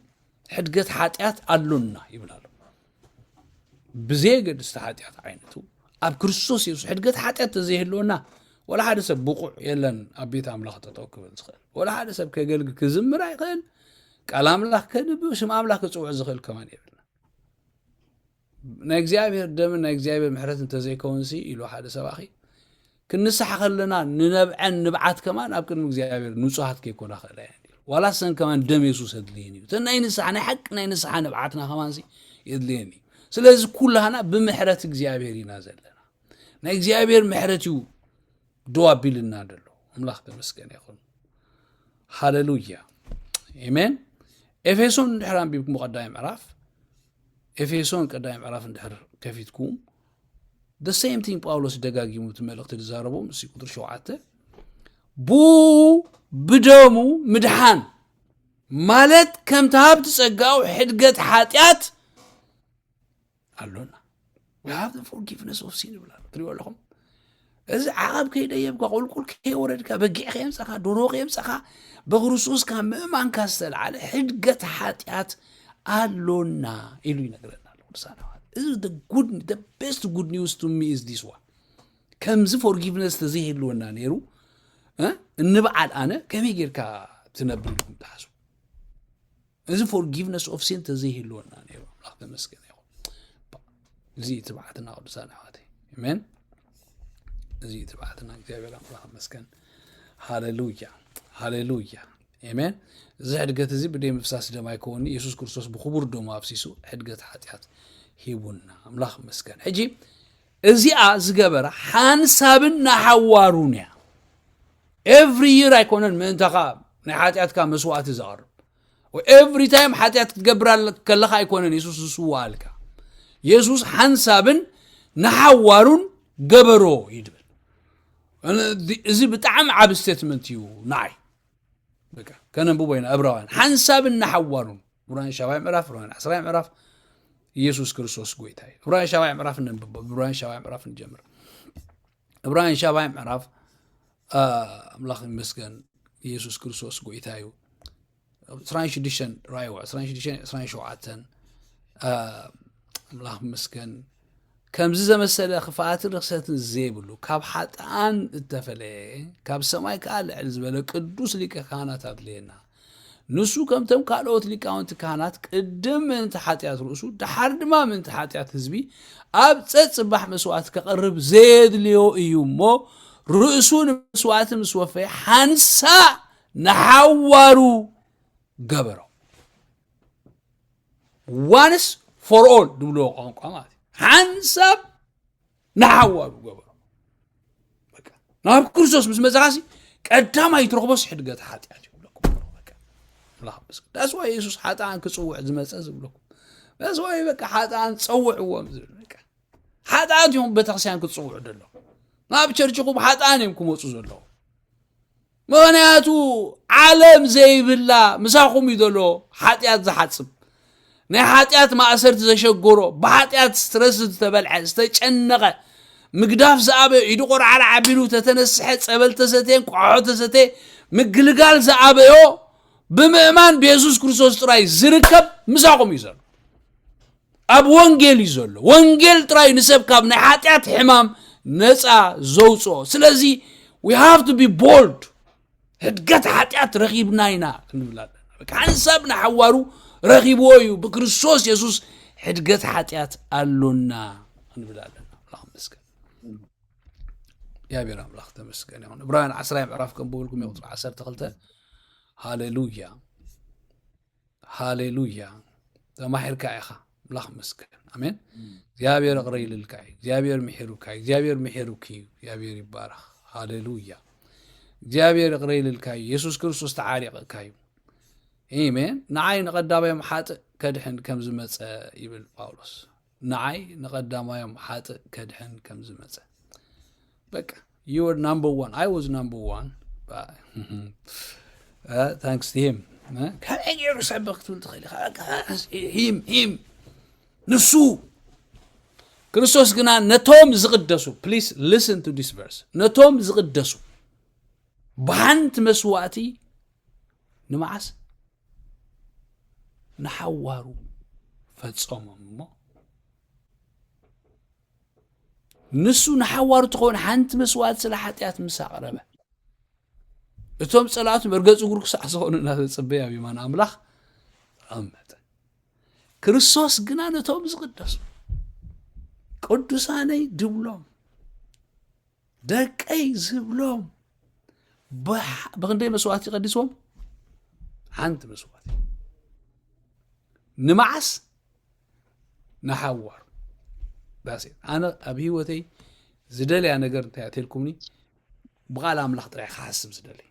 ሕድገት ሓጢኣት ኣሎና ይብል ኣሎ ብዘየገድስ እቲ ሓጢኣት ዓይነቱ ኣብ ክርስቶስ የሱስ ሕድገት ሓጢኣት ተዘይህልወና ወላ ሓደ ሰብ ብቑዕ የለን ኣብ ቤት ኣምላኽ ጠጠው ክብል ዝኽእል ወላ ሓደ ሰብ ከገልግ ክዝምር ኣይኽእል ቃል ኣምላኽ ከንብብ ስም ኣምላኽ ክፅውዕ ዝኽእል ከማን የብልና ናይ እግዚኣብሔር ደምን ናይ እግዚኣብሔር ምሕረት እንተዘይከውንሲ ኢሉ ሓደ ሰባኺ ክንስሓ ከለና ንነብዐን ንብዓት ከማን ኣብ ቅድሚ እግዚኣብሔር ንጹሃት ከይኮና ክእላ እየን ዋላ ሰን ከማን ደም የሱስ የድልየን እዩ እተን ናይ ንስሓ ናይ ሓቂ ናይ ንስሓ ንብዓትና ከማንሲ የድልየን እዩ ስለዚ ኩላህና ብምሕረት እግዚኣብሔር ኢና ዘለና ናይ እግዚኣብሔር ምሕረት እዩ ደው ኣቢልና ደሎ ኣምላኽ ተመስገን ይኹን ሃለሉያ ኤሜን ኤፌሶን ድሕር ኣንቢብኩም ቀዳይ ምዕራፍ ኤፌሶን ቀዳማይ ምዕራፍ እንድሕር ከፊትኩም the same thing ጳውሎስ ደጋጊሙ እቲ መልእኽቲ ዝዛረቦ ምስ ቁጥሪ ሸውዓተ ብኡ ብደሙ ምድሓን ማለት ከምቲ ሃብቲ ጸጋኡ ሕድገት ሓጢኣት ኣሎና ሃቭ ፎርጊቭነስ ኦፍ ሲን ይብላ ትሪኦ ኣለኹም እዚ ዓቐብ ከይደየብካ ቁልቁል ከይወረድካ በጊዕ ከየምፀኻ ዶሮ ከየምፀኻ በክርስቶስ ካብ ምእማንካ ዝተለዓለ ሕድገት ሓጢኣት ኣሎና ኢሉ ይነግረና ኣሎ ቅዱሳን እዚ ቤስት ጉድ ኒውስ ቱ ሚ ኢዝ ዲስ ዋን ከምዚ ፎርጊቭነስ ተዘይህልወና ነይሩ እንበዓል ኣነ ከመይ ጌርካ ትነብር ኢልኩም ትሓስቡ እዚ ፎርጊቭነስ ኦፍ ሲን ተዘይህልወና ነይሩ ኣምላኽ ተመስገነ ይኹን እዚ እዩ ትብዓትና ቅዱሳን ኣሕዋተይ ኣሜን እዚ እዩ ትብዓትና እግዚኣብሔር ኣምላኽ መስገን ሃሌሉያ ሃሌሉያ ኣሜን እዚ ሕድገት እዚ ብደይ ምፍሳስ ደማ ይከውን የሱስ ክርስቶስ ብክቡር ደሞ ኣፍሲሱ ሕድገት ሓጢኣት ሂቡና ኣምላኽ መስገን ሕጂ እዚኣ ዝገበራ ሓንሳብን ንሓዋሩን እያ ኤቭሪ ይር ኣይኮነን ምእንታኻ ናይ ሓጢኣትካ መስዋእቲ ዘቕርብ ኤቭሪ ታይም ሓጢኣት ክትገብር ከለኻ ኣይኮነን የሱስ ዝስዋኣልካ የሱስ ሓንሳብን ንሓዋሩን ገበሮ እዩ ድብል እዚ ብጣዕሚ ዓብ ስቴትመንት እዩ ንዓይ ከነንብቦ ኢና እብራውያን ሓንሳብን ንሓዋሩን ዕብራውያን ሻባይ ምዕራፍ ዕብራውያን ዓስራይ ምዕራፍ ኢየሱስ ክርስቶስ ጎይታ እዩ ዕብራውያን ሻባይ ምዕራፍ ነንብቦ ዕብራውያን ሻባይ ምዕራፍ ንጀምር ዕብራውያን ሻባይ ምዕራፍ አ፣ ኣምላኽ ይመስገን ኢየሱስ ክርስቶስ ጎይታ እዩ 26 ራእይዋ 26 27 አ፣ ኣምላኽ ይመስገን ከምዚ ዘመሰለ ክፍኣትን ርክሰትን ዘይብሉ ካብ ሓጥኣን እተፈለየ ካብ ሰማይ ከዓ ልዕል ዝበለ ቅዱስ ሊቀ ካህናት ኣድለየና ንሱ ከምቶም ካልኦት ሊቃውንቲ ካህናት ቅድም ምእንቲ ሓጢኣት ርእሱ ደሓር ድማ ምእንቲ ሓጢኣት ህዝቢ ኣብ ጸጽባሕ መስዋእቲ ከቕርብ ዘየድልዮ እዩ እሞ ርእሱ ንመስዋእቲ ምስ ወፈየ ሓንሳእ ንሓዋሩ ገበሮ ዋንስ ፎር ኦል ዝብልዎ ቋንቋ ማለት እዩ ሓንሳብ ንሓዋሩ ገበሮ ናብ ክርስቶስ ምስ መጽኻሲ ቀዳማይ ትረኽቦስ ሕድገት ሓጢኣት እዩ ብለኩም ዳስዋ የሱስ ሓጥኣን ክፅውዕ ዝመፀ ዝብለኩም ዳስዋ በቃ ሓጥኣን ፀውዕዎም ዝብል በቃ ሓጥኣት እዮም ቤተክርስትያን ክትፅውዑ ዘለኹም ናብ ቸርችኹም ሓጥኣን እዮም ክመፁ ዘለኹም ምኽንያቱ ዓለም ዘይብላ ምሳኹም እዩ ዘሎ ሓጢኣት ዝሓጽብ ናይ ሓጢኣት ማእሰርቲ ዘሸገሮ ብሓጢኣት ስትረስ ዝተበልዐ ዝተጨነቐ ምግዳፍ ዝኣበዮ ኢዱ ቆርዓራ ዓቢሉ ተተነስሐ ጸበል ተሰቴን ቋሖ ተሰቴ ምግልጋል ዝኣበዮ ብምእማን ብየሱስ ክርስቶስ ጥራይ ዝርከብ ምሳኹም እዩ ዘሎ ኣብ ወንጌል እዩ ዘሎ ወንጌል ጥራይ ንሰብ ካብ ናይ ሓጢኣት ሕማም ነፃ ዘውፅኦ ስለዚ ዊ ሃቭ ቱ ቢ ቦልድ ህድገት ሓጢኣት ረኺብና ኢና ክንብል ኣለና በቃ ሓንሳብ ንሓዋሩ ረኺብዎ እዩ ብክርስቶስ የሱስ ሕድገት ሓጢኣት ኣሎና ክንብል ኣለና ኣምላኽ መስገን እግዚኣብሔር ኣምላኽ ተመስገን ይኹን ዕብራውያን ዓስራይ ምዕራፍ ከንብበልኩም እዩ ቁፅሪ ዓሰርተ ክልተ ሃሌሉያ ሃሌሉያ ተማሒርካ ኢኻ ምላኽ መስገን ኣሜን እግዚኣብሔር እቕረ ኢልልካ እዩ እግዚኣብሔር ምሒሩካ እዩ እግዚኣብሔር ምሒሩክ እዩ እግዚኣብሔር ይባረኽ ሃሌሉያ እግዚኣብሔር እቕረ ኢልልካ እዩ የሱስ ክርስቶስ ተዓሪቕካ እዩ ኢሜን ንዓይ ንቐዳማዮም ሓጥእ ከድሕን ከም ዝመፀ ይብል ጳውሎስ ንዓይ ንቀዳማዮም ሓጥእ ከድሕን ከም ዝመጸ በቃ you were number one I was number one but uh, thanks to him ከመይ ገይሩ ሰበ ክትብል ትኽእል ኢኻ በቃ ሂም ሂም ንሱ ክርስቶስ ግና ነቶም ዝቕደሱ ፕሊስ ሊስን ቱ ዲስ ቨርስ ነቶም ዝቕደሱ ብሓንቲ መስዋእቲ ንመዓስ ንሓዋሩ ፈጸሞም እሞ ንሱ ንሓዋሩ ትኸውን ሓንቲ መስዋዕት ስለ ሓጢኣት ምስ ኣቕረበ እቶም ጸላእቱ መርገፂ እግሩ ክሳዕ ዝኾኑ እናተጸበየ ኣብ የማን ኣምላኽ ተቐመጠ ክርስቶስ ግና ነቶም ዝቕደሱ ቅዱሳነይ ድብሎም ደቀይ ዝብሎም ብክንደይ መስዋእቲ ቀዲስዎም ሓንቲ መስዋእቲ ንመዓስ ንሓዋሩ ዳሴ ኣነ ኣብ ሂወተይ ዝደልያ ነገር እንታይ እያ ብቓል ኣምላኽ ጥራይ ክሓስብ ዝደልይ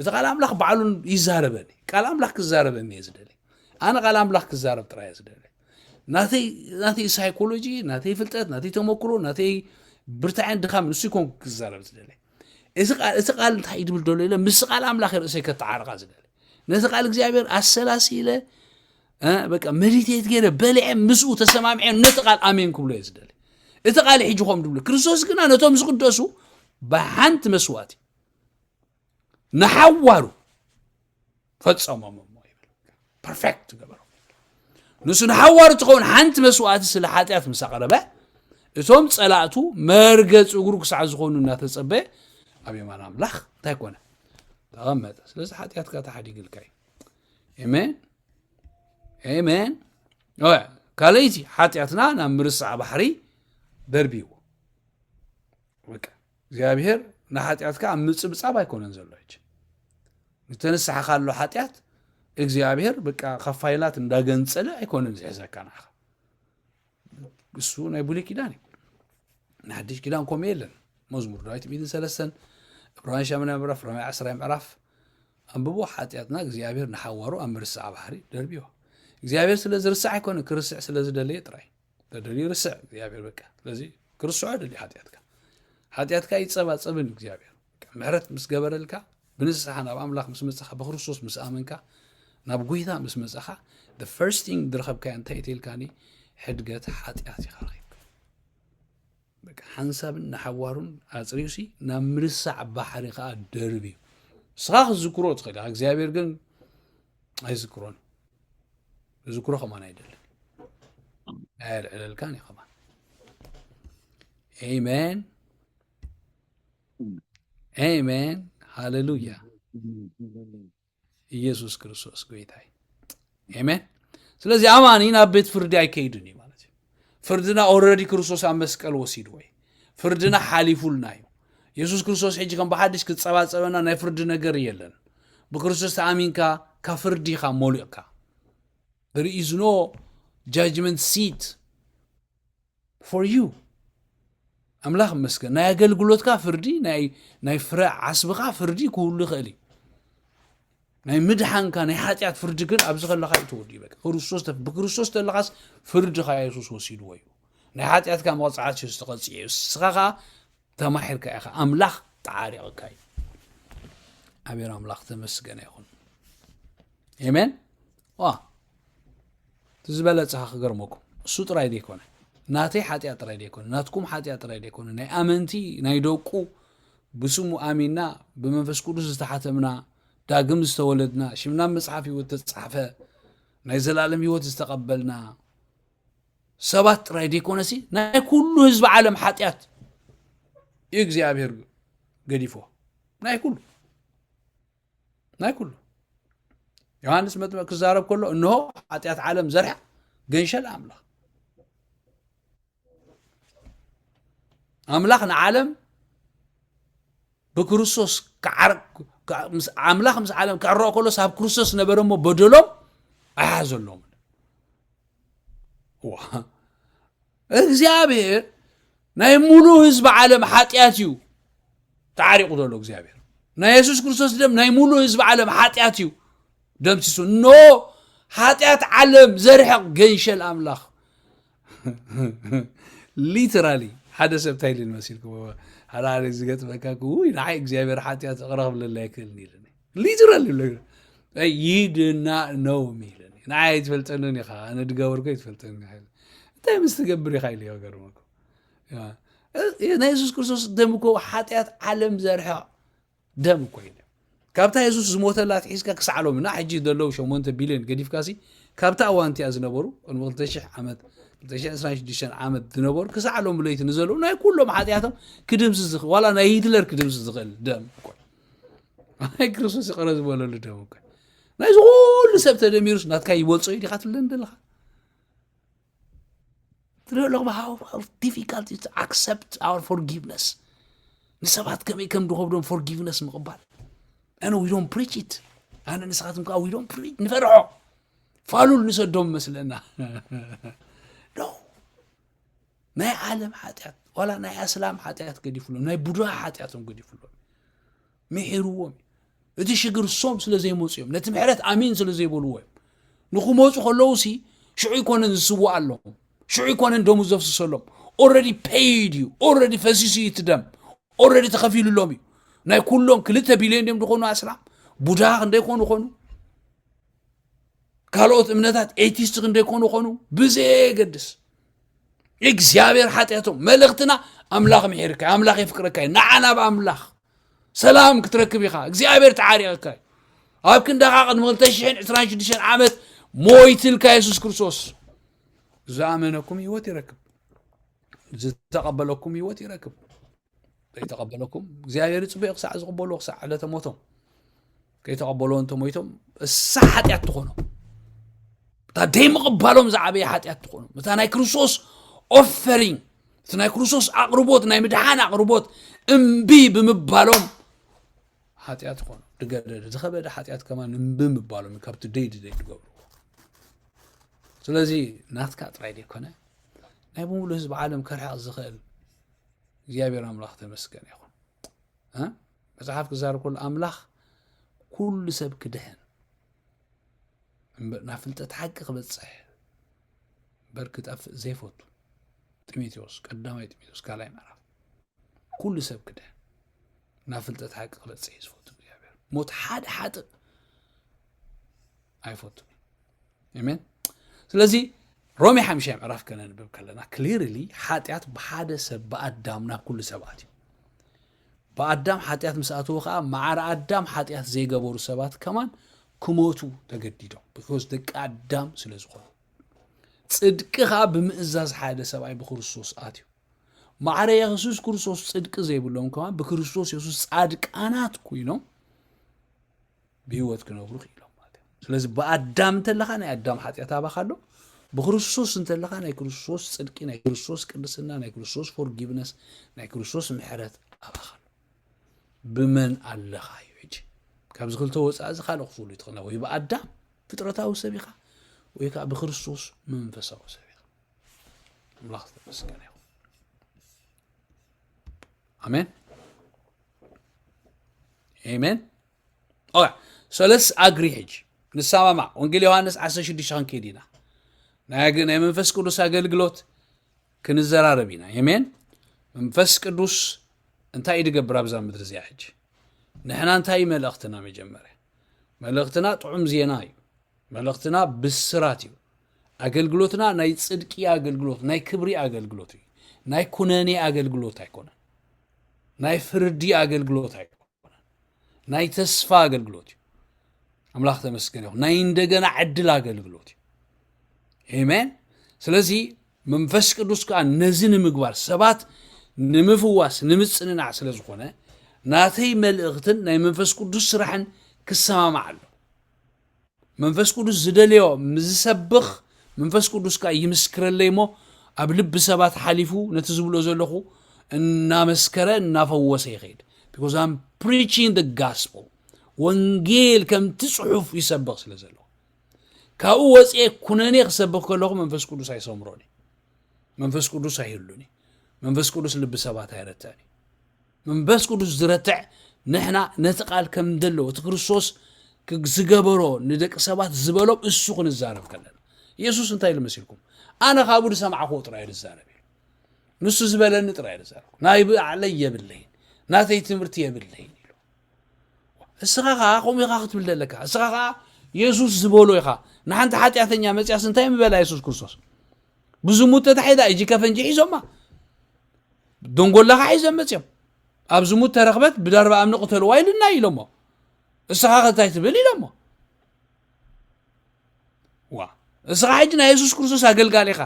እዚ ቃል ኣምላኽ ባዕሉ ይዛረበኒ ቃል ኣምላኽ ክዛረበኒ እየ ዝደሊ ኣነ ቃል ኣምላኽ ክዛረብ ጥራይ እየ ዝደሊ ናተይ ሳይኮሎጂ ናተይ ፍልጠት ናተይ ተመክሮ ናተይ ብርታዕን ድኻም ንሱ ይኮን ክዛረብ ዝደሊ እዚ ቃል እንታይ ድብል ደሎ ኢለ ምስ ቃል ኣምላኽ ርእሰይ ከተዓርቃ ዝደሊ ነዚ ቃል እግዚኣብሔር ኣሰላሲ ኢለ በቃ መዲቴት ገይረ በሊዐ ምስኡ ተሰማሚዐ ነቲ ቃል ኣሜን ክብሎ እየ ዝደሊ እቲ ቃል ሕጂ ከም ድብሉ ክርስቶስ ግና ነቶም ዝቅደሱ ብሓንቲ መስዋእቲ ንሓዋሩ ፈጸሞም እሞ ይብል ፐርፌክት ገበሮ ንሱ ንሓዋሩ ትኸውን ሓንቲ መስዋእቲ ስለ ሓጢኣት ምስ ኣቕረበ እቶም ጸላእቱ መርገፂ እግሩ ክሳዕ ዝኾኑ እናተጸበየ ኣብ የማን ኣምላኽ እንታይ ኮነ ተቐመጠ ስለዚ ሓጢኣትካ ተሓዲግልካ እዩ ኤሜን ኤሜን ካልእቲ ሓጢኣትና ናብ ምርሳዕ ባሕሪ ደርቢዎ በቃ እግዚኣብሔር ንሓጢኣትካ ኣብ ምጽብጻብ ኣይኮነን ዘሎ ሕጂ ዝተንስሓኻሉ ሓጢኣት እግዚኣብሔር በቃ ካብ ፋይላት እንዳገንጸለ ኣይኮነን ዝሕዘካ ንዓኻ እሱ ናይ ብሉይ ኪዳን እዩ ንሓድሽ ኪዳን ከምኡ የለን መዝሙር ዳዊት ሚትን ሰለስተን ዕብራውያን ሻምና ምዕራፍ ሮሜ ዓስራይ ምዕራፍ ኣንብቦ ሓጢኣትና እግዚኣብሔር ንሓዋሩ ኣብ ምርሳዕ ባሕሪ ደርብዮ እግዚኣብሔር ስለ ዝርሳዕ ኣይኮነ ክርስዕ ስለ ዝደለየ ጥራይ በደል ይርስዕ እግዚኣብሔር በቃ ስለዚ ክርስዖ ደልዩ ሓጢኣትካ ሓጢኣትካ ይጸባጸብን እዩ እግዚኣብሔር ምሕረት ምስ ገበረልካ ብንስሓ ናብ ኣምላኽ ምስ መጻኻ ብክርስቶስ ምስ ኣመንካ ናብ ጎይታ ምስ መጻኻ the first thing ዝረኸብካዮ እንታይ እትልካኒ ሕድገት ሓጢኣት ኢኻ ረኺብካ በቃ ሓንሳብን ንሓዋሩን ኣጽሪዩሲ ናብ ምርሳዕ ባሕሪ ከዓ ደርብ እዩ ንስኻ ክትዝክሮ ትኽእል እግዚኣብሔር ግን ኣይዝክሮን ዝክሮ ከማን ኣይደልን ኣየልዕለልካን እዩ ከማን ኤሜን ኤሜን ሃሌሉያ ኢየሱስ ክርስቶስ ጎይታይ ኤሜን ስለዚ ኣማኒ ናብ ቤት ፍርዲ ኣይከይድን እዩ ማለት እዩ ፍርድና ኦረዲ ክርስቶስ ኣብ መስቀል ወሲድዎ እዩ ፍርድና ሓሊፉልና እዩ የሱስ ክርስቶስ ሕጂ ከም ብሓድሽ ክጸባጸበና ናይ ፍርዲ ነገር የለን ብክርስቶስ ተኣሚንካ ካብ ፍርዲ ኢኻ ሞሊቕካ there is no judgment seat for you ኣምላኽ መስገን ናይ ኣገልግሎትካ ፍርዲ ናይ ፍረ ዓስብኻ ፍርዲ ክህሉ ይኽእል እዩ ናይ ምድሓንካ ናይ ሓጢኣት ፍርዲ ግን ኣብዚ ከለካ እዩ ተወዲኡ በቃ ክርስቶስ ብክርስቶስ ተለካስ ፍርድካ የሱስ ወሲድዎ እዩ ናይ ሓጢኣትካ መቕፃዕቲ እዩ ዝተቐፅዐ እዩ እስኻ ከዓ ተማሒርካ ኢኻ ኣምላኽ ተዓሪቕካ እዩ ኣቤር ኣምላኽ ተመስገነ ይኹን ኤሜን ዋ እቲ ዝበለፀኻ ክገርመኩም እሱ ጥራይ ዘይኮነ ናተይ ሓጢኣት ጥራይ ዘይኮነ ናትኩም ሓጢኣት ጥራይ ዘይኮነ ናይ ኣመንቲ ናይ ደቁ ብስሙ ኣሚንና ብመንፈስ ቅዱስ ዝተሓተምና፣ ዳግም ዝተወለድና፣ ሽምና ኣብ መጽሓፍ ህይወት ተጻሕፈ፣ ናይ ዘላለም ህይወት ዝተቐበልና ሰባት ጥራይ ዘይኮነሲ ናይ ኩሉ ህዝቢ ዓለም ሓጢኣት እዩ እግዚኣብሔር ገዲፎ ናይ ኩሉ ናይ ኩሉ ዮሃንስ መጥምቅ ክዛረብ ከሎ እንሆ ሓጢኣት ዓለም ዘርሐ ገንሸል ኣምላኽ ኣምላኽ ንዓለም ብክርስቶስ ኣምላኽ ምስ ዓለም ክዕረቕ ከሎስ ኣብ ክርስቶስ ነበረ እሞ በደሎም ኣይሓዘሎም እግዚኣብሔር ናይ ሙሉእ ህዝቢ ዓለም ሓጢኣት እዩ ተዓሪቑ ዘሎ እግዚኣብሔር ናይ የሱስ ክርስቶስ ደም ናይ ሙሉእ ህዝቢ ዓለም ሓጢኣት እዩ ደምሲሱ ኖ ሓጢኣት ዓለም ዘርሕቕ ገንሸል ኣምላኽ ሊተራሊ ሓደ ሰብ እንታይ ኢሉኒ መሲልኩም ሓደ ሓደ ዝገጥመካ ውይ ንዓይ እግዚኣብሔር ሓጢኣት ይቕረ ክብለላ ኣይክእልን ኢሉኒ ሊተራሊ ይድና ነው ኢሉኒ ንዓይ ኣይትፈልጠንን ኢኻ ኣነ ድገበርኩ ኣይትፈልጠን ኢኻ ኢሉ። እንታይ ምስ ትገብር ኢኻ ኢሉ ገርመኩ ናይ የሱስ ክርስቶስ ደም እኮ ሓጢኣት ዓለም ዘርሕቕ ደም ኮይኑ ካብታ የሱስ ዝሞተላ ኣትሒዝካ ክሳዕ ሎምና ሕጂ ዘለዉ 8 ቢልዮን ገዲፍካሲ ካብታ እዋን እቲኣ ዝነበሩ ቅድሚ 2000 ዓመት 226 ዓመት ዝነበሩ ክሳዕ ሎም ለይቲ ንዘለዉ ናይ ኩሎም ሓጢኣቶም ክድምስ ዝኽእል ዋላ ናይ ሂትለር ክድምስ ዝኽእል ደም ናይ ክርስቶስ ይቐረ ዝበለሉ ደም እኮ ናይ ዝኹሉ ሰብ ተደሚሩስ ናትካ ይበልፆ እዩ ዲኻ ትብለኒ ዘለኻ ትሪኦ ኣለኹም ሃው ዲፊካልት ዩ ኣክሰፕት ኣወር ፎርጊቭነስ ንሰባት ከመይ ከም ዝኸብዶም ፎርጊቭነስ ምቕባል ኣነ ዊዶም ፕሪች ኢት ኣነ ንስኻትኩም ከዓ ዊዶም ፕሪች ንፈርዖ ፋሉል ንሰዶም መስለና ዶ ናይ ዓለም ሓጢኣት ዋላ ናይ ኣስላም ሓጢኣት ገዲፍሎም ናይ ቡድሃ ሓጢኣቶም ገዲፍሎም ምሒርዎም እዩ እቲ ሽግር እሶም ስለ ዘይመፁ እዮም ነቲ ምሕረት ኣሜን ስለ ዘይበልዎ እዮም ንክመፁ ከለዉ ሲ ሽዑ ይኮነን ዝስዋእ ኣለዎም ሽዑ ይኮነን ደሙ ዘፍስሰሎም ኦረዲ ፔይድ እዩ ኦረዲ ፈሲሱ እዩ እቲ ደም ኦረዲ ተኸፊሉሎም እዩ ናይ ኩሎም ክልተ ቢልዮን ድም ዝኾኑ ኣስላም ቡድሃ ክንደይ ኮኑ ኮኑ ካልኦት እምነታት ኤቲስት ክንደይ ኮኑ ኮኑ ብዘየገድስ እግዚኣብሔር ሓጢኣቶም መልእኽትና ኣምላኽ ምሒርካ ኣምላኽ የፍቅረካ እዩ ንዓና ብኣምላኽ ሰላም ክትረክብ ኢኻ እግዚኣብሔር ተዓሪቕካ እዩ ኣብ ክንዳኻ ቅድሚ 226 ዓመት ሞይትልካ የሱስ ክርስቶስ ዝኣመነኩም ህይወት ይረክብ ዝተቐበለኩም ህይወት ይረክብ ዘይተቐበለኩም እግዚኣብሔር ይፅበዮ ክሳዕ ዝቕበሉ ክሳዕ ዕለተ ሞቶም ከይተቐበልዎ እንተሞይቶም እሳ ሓጢኣት ትኾኖም እታ ደይምቕባሎም ዝዓበየ ሓጢኣት ትኾኖም እታ ናይ ክርስቶስ ኦፈሪንግ እቲ ናይ ክርስቶስ ኣቕርቦት ናይ ምድሓን ኣቕርቦት እምቢ ብምባሎም ሓጢኣት ይኾኑ ድገደደ ዝኸበደ ሓጢኣት ከማ እምቢ ምባሎም ካብቲ ደይ ድደይ ትገብሩ ስለዚ ናትካ ጥራይ ዘይኮነ ናይ ብምሉ ህዝቢ ዓለም ከርሕቕ ዝኽእል እግዚኣብሔር ኣምላኽ ተመስገን ይኹን መጽሓፍ ክዛረብ ከሎ ኣምላኽ ኩሉ ሰብ ክድሕን እምበር ናብ ፍልጠት ሓቂ ክበጽሕ እምበር ክጠፍእ ዘይፈቱ ጢሞቴዎስ ቀዳማይ ጢሞቴዎስ ካልኣይ ምዕራፍ ኩሉ ሰብ ክድሕን ናብ ፍልጠት ሓቂ ክበጽሕ እዩ ዝፈቱ እግዚኣብሔር ሞት ሓደ ሓጥእ ኣይፈቱን እዩ ሜን ስለዚ ሮሜ ሓምሻይ ምዕራፍ ከነንብብ ከለና ክሊርሊ ሓጢኣት ብሓደ ሰብ ብኣዳም ናብ ኩሉ ሰባት እዩ ብኣዳም ሓጢኣት ምስ ኣተወ ከዓ ማዕረ ኣዳም ሓጢኣት ዘይገበሩ ሰባት ከማን ክሞቱ ተገዲዶም ብኮስ ደቂ ኣዳም ስለ ዝኾኑ ፅድቂ ከዓ ብምእዛዝ ሓደ ሰብኣይ ብክርስቶስ ኣትዩ ማዕረ የሱስ ክርስቶስ ፅድቂ ዘይብሎም ከማን ብክርስቶስ የሱስ ፃድቃናት ኮይኖም ብህይወት ክነብሩ ክኢሎም ማለት እዩ ስለዚ ብኣዳም እንተለካ ናይ ኣዳም ሓጢኣት ኣባካ ኣሎ ብክርስቶስ እንተለካ ናይ ክርስቶስ ፅድቂ ናይ ክርስቶስ ቅድስና ናይ ክርስቶስ ፎርጊቭነስ ናይ ክርስቶስ ምሕረት ኣባካ ኣሎ ብመን ኣለካ እዩ ሕጂ ካብዚ ክልተ ወፃኢ እዚ ካልእ ክፍሉ ትኽእላ ወይ ብኣዳም ፍጥረታዊ ሰብ ኢኻ ወይ ከዓ ብክርስቶስ መንፈሳዊ ሰብ ኢኻ ኣምላኽ ዝተመስገነ ይኹን ኣሜን ኤሜን ኦያ ሰለስ ኣግሪ ሕጂ ንሰማማዕ ወንጌል ዮሃንስ 16 ክንከይድ ኢና ናይ ናይ መንፈስ ቅዱስ ኣገልግሎት ክንዘራረብ ኢና ኤሜን መንፈስ ቅዱስ እንታይ እዩ ድገብር ኣብዛ ምድሪ እዚኣ ሕጂ ንሕና እንታይ እዩ መልእኽትና መጀመርያ መልእኽትና ጥዑም ዜና እዩ መልእኽትና ብስራት እዩ ኣገልግሎትና ናይ ፅድቂ ኣገልግሎት ናይ ክብሪ ኣገልግሎት እዩ ናይ ኩነኔ ኣገልግሎት ኣይኮነን ናይ ፍርዲ ኣገልግሎት ኣይኮነን፣ ናይ ተስፋ ኣገልግሎት እዩ። ኣምላኽ ተመስገን ይኹን። ናይ እንደገና ዕድል ኣገልግሎት እዩ። ኤሜን። ስለዚ መንፈስ ቅዱስ ከዓ ነዚ ንምግባር ሰባት ንምፍዋስ ንምፅንናዕ ስለ ዝኾነ ናተይ መልእኽትን ናይ መንፈስ ቅዱስ ስራሕን ክሰማማዕ ኣሎ። መንፈስ ቅዱስ ዝደልዮ ምስ ዝሰብኽ መንፈስ ቅዱስ ከኣ ይምስክረለይ እሞ ኣብ ልቢ ሰባት ሓሊፉ ነቲ ዝብሎ ዘለኹ እናመስከረ እናፈወሰ ይኸይድ because I'm preaching the gospel ወንጌል ከምቲ ጽሑፍ ይሰብኽ ስለ ዘለኹ ካብኡ ወፅኤ ኩነኔ ክሰብኽ ከለኹ መንፈስ ቅዱስ ኣይሰምሮን እዩ መንፈስ ቅዱስ ኣይህሉን እዩ መንፈስ ቅዱስ ልቢ ሰባት ኣይረትዕን እዩ መንፈስ ቅዱስ ዝረትዕ ንሕና ነቲ ቃል ከም ደለዎ እቲ ክርስቶስ ዝገበሮ ንደቂ ሰባት ዝበሎም እሱ ክንዛረብ ከለና ኢየሱስ እንታይ ኢሉ መሲልኩም ኣነ ካብኡ ዝሰማዕክዎ ጥራይ ዝዛረብ ኢሉ ንሱ ዝበለኒ ጥራይ ዝዛረብ ናይ ብዓለይ የብለይን ናተይ ትምህርቲ የብለይን ኢሉ እስኻ ከዓ ከምኡ ኢኻ ክትብል ዘለካ እስኻ ከዓ የሱስ ዝበሎ ኢኻ ንሓንቲ ሓጢኣተኛ መፅያስ እንታይ ምበላ የሱስ ክርስቶስ ብዙ ሙት ተታሒዛ እጂ ከፈንጂ ሒዞማ ደንጎላኻ ሒዞም መፅኦም ኣብ ዝሙት ተረኽበት ብደርባ እምኒ ቅተልዋ ኢሉና ኢሎሞ እስኻ ከታይ ትብል ኢሎሞ ዋ እስኻ ሕጂ ናይ የሱስ ክርስቶስ ኣገልጋሊ ኢኻ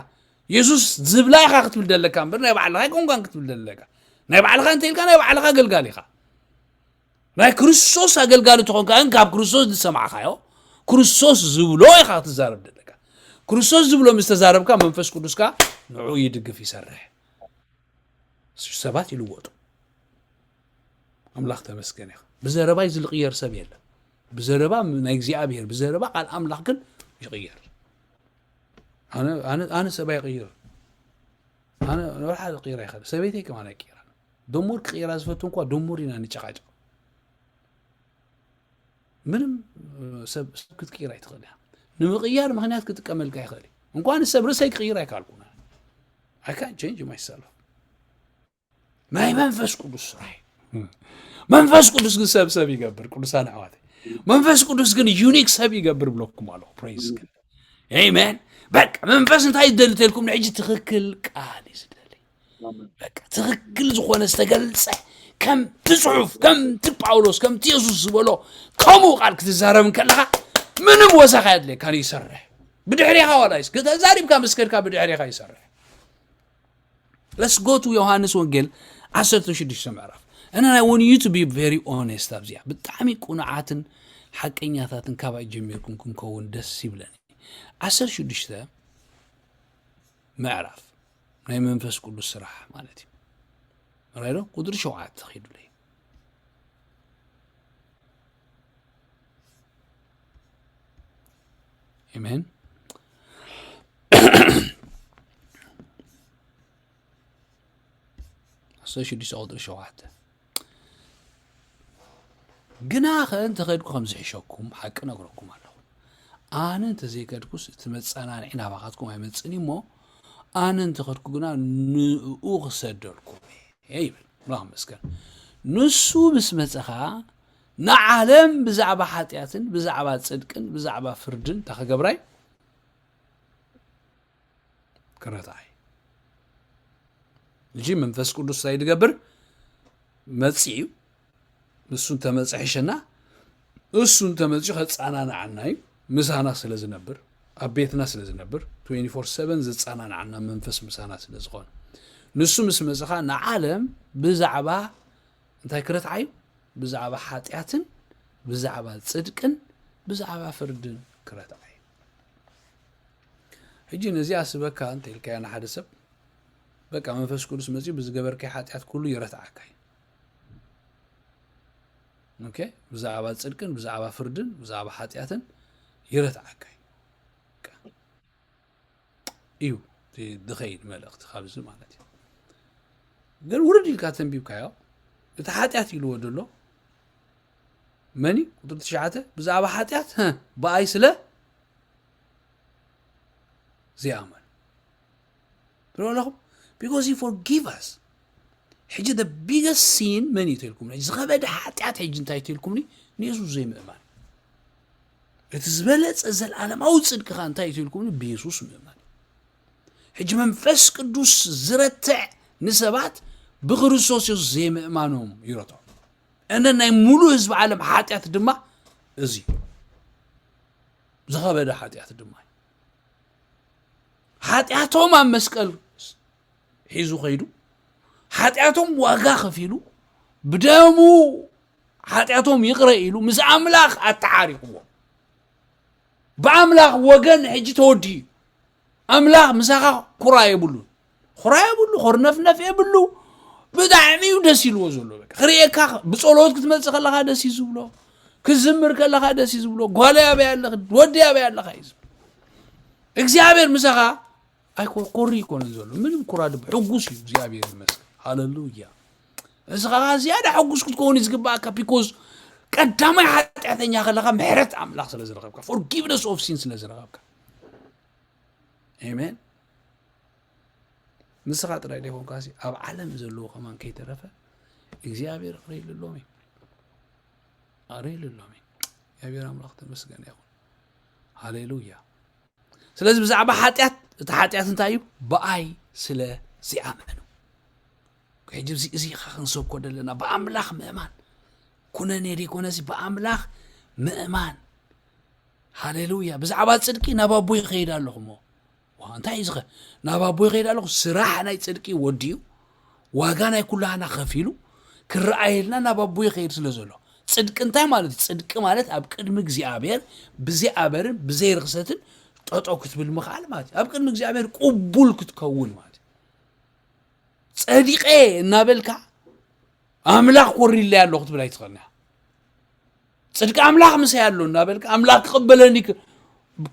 የሱስ ዝብላ ኢኻ ክትብል ዘለካ እምበር ናይ ባዕልኻ ኣይኮንካን ክትብል ዘለካ ናይ ባዕልኻ እንተኢልካ ናይ ባዕልኻ ኣገልጋሊ ኢኻ ናይ ክርስቶስ ኣገልጋሊ ትኾንካ ግን ካብ ክርስቶስ ዝሰማዕካዮ ክርስቶስ ዝብሎ ኢኻ ክትዛረብ ዘለካ ክርስቶስ ዝብሎ ምስ ተዛረብካ መንፈስ ቅዱስካ ንዕኡ ይድግፍ ይሰርሕ ሰባት ይልወጡ ኣምላኽ ተመስገን ኢኻ ብዘረባይ ዝልቕየር ሰብ የለን ብዘረባ ናይ እግዚኣብሔር ብዘረባ ቃል ኣምላኽ ግን ይቕየር ኣነ ሰባ ይቕይር ኣነ ንብርሓ ይቕይር ኣይኸ ሰበይተይ ከማን ኣይቅይራ ድሙር ክቕይራ ዝፈቱ እንኳ ድሙር ኢና ንጨቃጨቕ ምንም ሰብ ክትቅይር ኣይትኽእል እያ ንምቕያር ምክንያት ክጥቀመልካ ይኽእል እዩ እንኳን ሰብ ርእሰይ ክቕይር ኣይካልኩን I can't change myself ናይ መንፈስ ቅዱስ ስራሕ እዩ መንፈስ ቅዱስ ግን ሰብ ሰብ ይገብር ቅዱሳን ኣሕዋት መንፈስ ቅዱስ ግን ዩኒክ ሰብ ይገብር ብለኩም ኣለኹ ፕሬዝ ግን ኤሜን በቃ መንፈስ እንታይ ይደሊ ተልኩም ንሕጂ ትኽክል ቃል እዩ ዝደሊ ትክክል ዝኾነ ዝተገልጸ ከምቲ ጽሑፍ ከምቲ ጳውሎስ ከምቲ የሱስ ዝበሎ ከምኡ ቃል ክትዛረብ ከለኻ ምንም ወሳኺ ኣድልየካን ይሰርሕ ብድሕሪኻ ዋላ ይስ ተዛሪብካ ምስ ከድካ ብድሕሪኻ ይሰርሕ ለስጎቱ ዮሃንስ ወንጌል 16 ምዕራፍ እና ናይ ወን ዩ ቱ ቢ ቨሪ ኦነስት ኣብዚኣ ብጣዕሚ ቁኑዓትን ሓቀኛታትን ካባይ ጀሚርኩም ክንከውን ደስ ይብለኒ 16 ምዕራፍ ናይ መንፈስ ቅዱስ ስራሕ ማለት እዩ ራይዶ ቁፅሪ ሸውዓተ ኪዱለይ ኤሜን ኣስተ ሽዱሽተ ቁፅሪ ሸውዓተ ግና ከ እንተኸድኩ ከም ዝሕሸኩም ሓቂ ነግረኩም ኣለኹ ኣነ እንተዘይከድኩስ እቲ መጸናንዒ ናባኻትኩም ኣይመጽን እዩ እሞ ኣነ እንተኸድኩ ግና ንእኡ ክሰደልኩም እየ ይብል ኣምላኽ መስገን ንሱ ምስ መጸ ኸዓ ንዓለም ብዛዕባ ሓጢኣትን ብዛዕባ ጽድቅን ብዛዕባ ፍርድን እንታ ክገብራይ ክረትዓይ እጂ መንፈስ ቅዱስ እንታይ ድገብር መፅኡ ንሱ እንተመፅ ሕሸና እሱ እንተመፅኡ ከፃናናዓና እዩ ምሳና ስለ ዝነብር ኣብ ቤትና ስለ ዝነብር 24/7 ዝፃናናዓና መንፈስ ምሳና ስለ ዝኾነ ንሱ ምስ መፅ ከዓ ንዓለም ብዛዕባ እንታይ ክረትዓዩ ብዛዕባ ሓጢኣትን ብዛዕባ ፅድቅን ብዛዕባ ፍርድን ክረትዓዩ ሕጂ ነዚኣ ስበካ እንተ ኢልካዮ ንሓደ ሰብ በቃ መንፈስ ቅዱስ መፅኡ ብዝገበርካዮ ሓጢኣት ኩሉ ይረትዓካ እዩ ኦኬ ብዛዕባ ጽድቅን ብዛዕባ ፍርድን ብዛዕባ ሓጢኣትን ይረትዓካ እዩ ድኸይድ መልእኽቲ ካብዚ ማለት እዩ ግን ውርድ ኢልካ ተንቢብካዮ እቲ ሓጢኣት ኢልዎ ደሎ መኒ ቁጥሪ ትሽዓተ ብዛዕባ ሓጢኣት ብኣይ ስለ ዘይኣመኑ ትሪኦ ኣለኹም ቢኮዝ ዩ ፎርጊቭ ኣስ ሕጂ ደ ቢገስ ሲን መን እዩ ተልኩምኒ ዝኸበደ ሓጢኣት ሕጂ እንታይ ተልኩምኒ ንየሱስ ዘይምእማን እቲ ዝበለፀ ዘለዓለማዊ ፅድቅኻ እንታይ እዩ ተልኩምኒ ብየሱስ ምእማን ሕጂ መንፈስ ቅዱስ ዝረትዕ ንሰባት ብክርስቶስ የሱስ ዘይምእማኖም ይረትዖም እነ ናይ ሙሉእ ህዝቢ ዓለም ሓጢኣት ድማ እዚ እዩ ዝኸበደ ሓጢኣት ድማ እዩ ሓጢኣቶም ኣብ መስቀል ሒዙ ከይዱ ሓጢኣቶም ዋጋ ከፊሉ ብደሙ ሓጢኣቶም ይቕረ ኢሉ ምስ ኣምላኽ ኣተዓሪቕዎም ብኣምላኽ ወገን ሕጂ ተወዲኡ እዩ ኣምላኽ ምሳኻ ኩራ የብሉን ኩራ የብሉ ኮርነፍነፍ የብሉ ብጣዕሚ እዩ ደስ ኢልዎ ዘሎ በቃ ክርእየካ ብጸሎት ክትመጽእ ከለኻ ደስ እዩ ዝብሎ ክዝምር ከለኻ ደስ እዩ ዝብሎ ጓለይ ኣበይ ኣለኺ ወዲ ኣበይ ኣለኻ እዩ ዝብሎ እግዚኣብሔር ምሳኻ ኣይኮርኮሪ ይኮንን ዘሎ ምንም ኩራ ድብ ሕጉስ እዩ እግዚኣብሔር ይመስገን ሃለሉያ እስኻ ከዓ ዝያዳ ሕጉስ ክትከውን እዩ ዝግባእካ ቢኮዝ ቀዳማይ ሓጢኣተኛ ከለኻ ምሕረት ኣምላኽ ስለ ዝረኸብካ ፎርጊቭነስ ኦፍ ሲን ስለ ዝረኸብካ ኣሜን። ንስኻ ጥራይ ዘይኮንካ ኣብ ዓለም ዘለዎ ከማን ከይተረፈ እግዚኣብሔር ክርእይልሎም እዩ ኣርእይልሎም እዩ እግዚኣብሔር ኣምላኽ ተመስገነ ይኹን ሃሌሉያ ስለዚ ብዛዕባ ሓጢኣት እቲ ሓጢኣት እንታይ እዩ ብኣይ ስለ ዘይኣመኑ ሕጂ እዚ እዚ ኢኻ ክንሰብኮ ዘለና ብኣምላኽ ምእማን ኩነኔ ዘይኮነሲ ብኣምላኽ ምእማን ሃሌሉያ ብዛዕባ ጽድቂ ናብ ኣቦ ይኸይድ ኣለኹ እሞ ዋ እንታይ እዩ ዝኸ ናብ ኣቦ ይኸይድ ኣለኹ ስራሕ ናይ ጽድቂ ወዲኡ ዋጋ ናይ ኩላህና ከፊሉ ክረኣየልና ናብ ኣቦ ይኸይድ ስለ ዘሎ ጽድቂ እንታይ ማለት እዩ ጽድቂ ማለት ኣብ ቅድሚ እግዚኣብሔር ብዘይ ኣበርን ብዘይ ርክሰትን ጠጦ ክትብል ምኽኣል ማለት እዩ ኣብ ቅድሚ እግዚኣብሔር ቅቡል ክትከውን ማለት እዩ ጸዲቐ እናበልካ ኣምላኽ ኮሪለይ ኣለኹ ትብል ኣይትኽእልና ጽድቂ ኣምላኽ ምሳይ ኣሎ እናበልካ ኣምላኽ ክቕበለኒ ክ-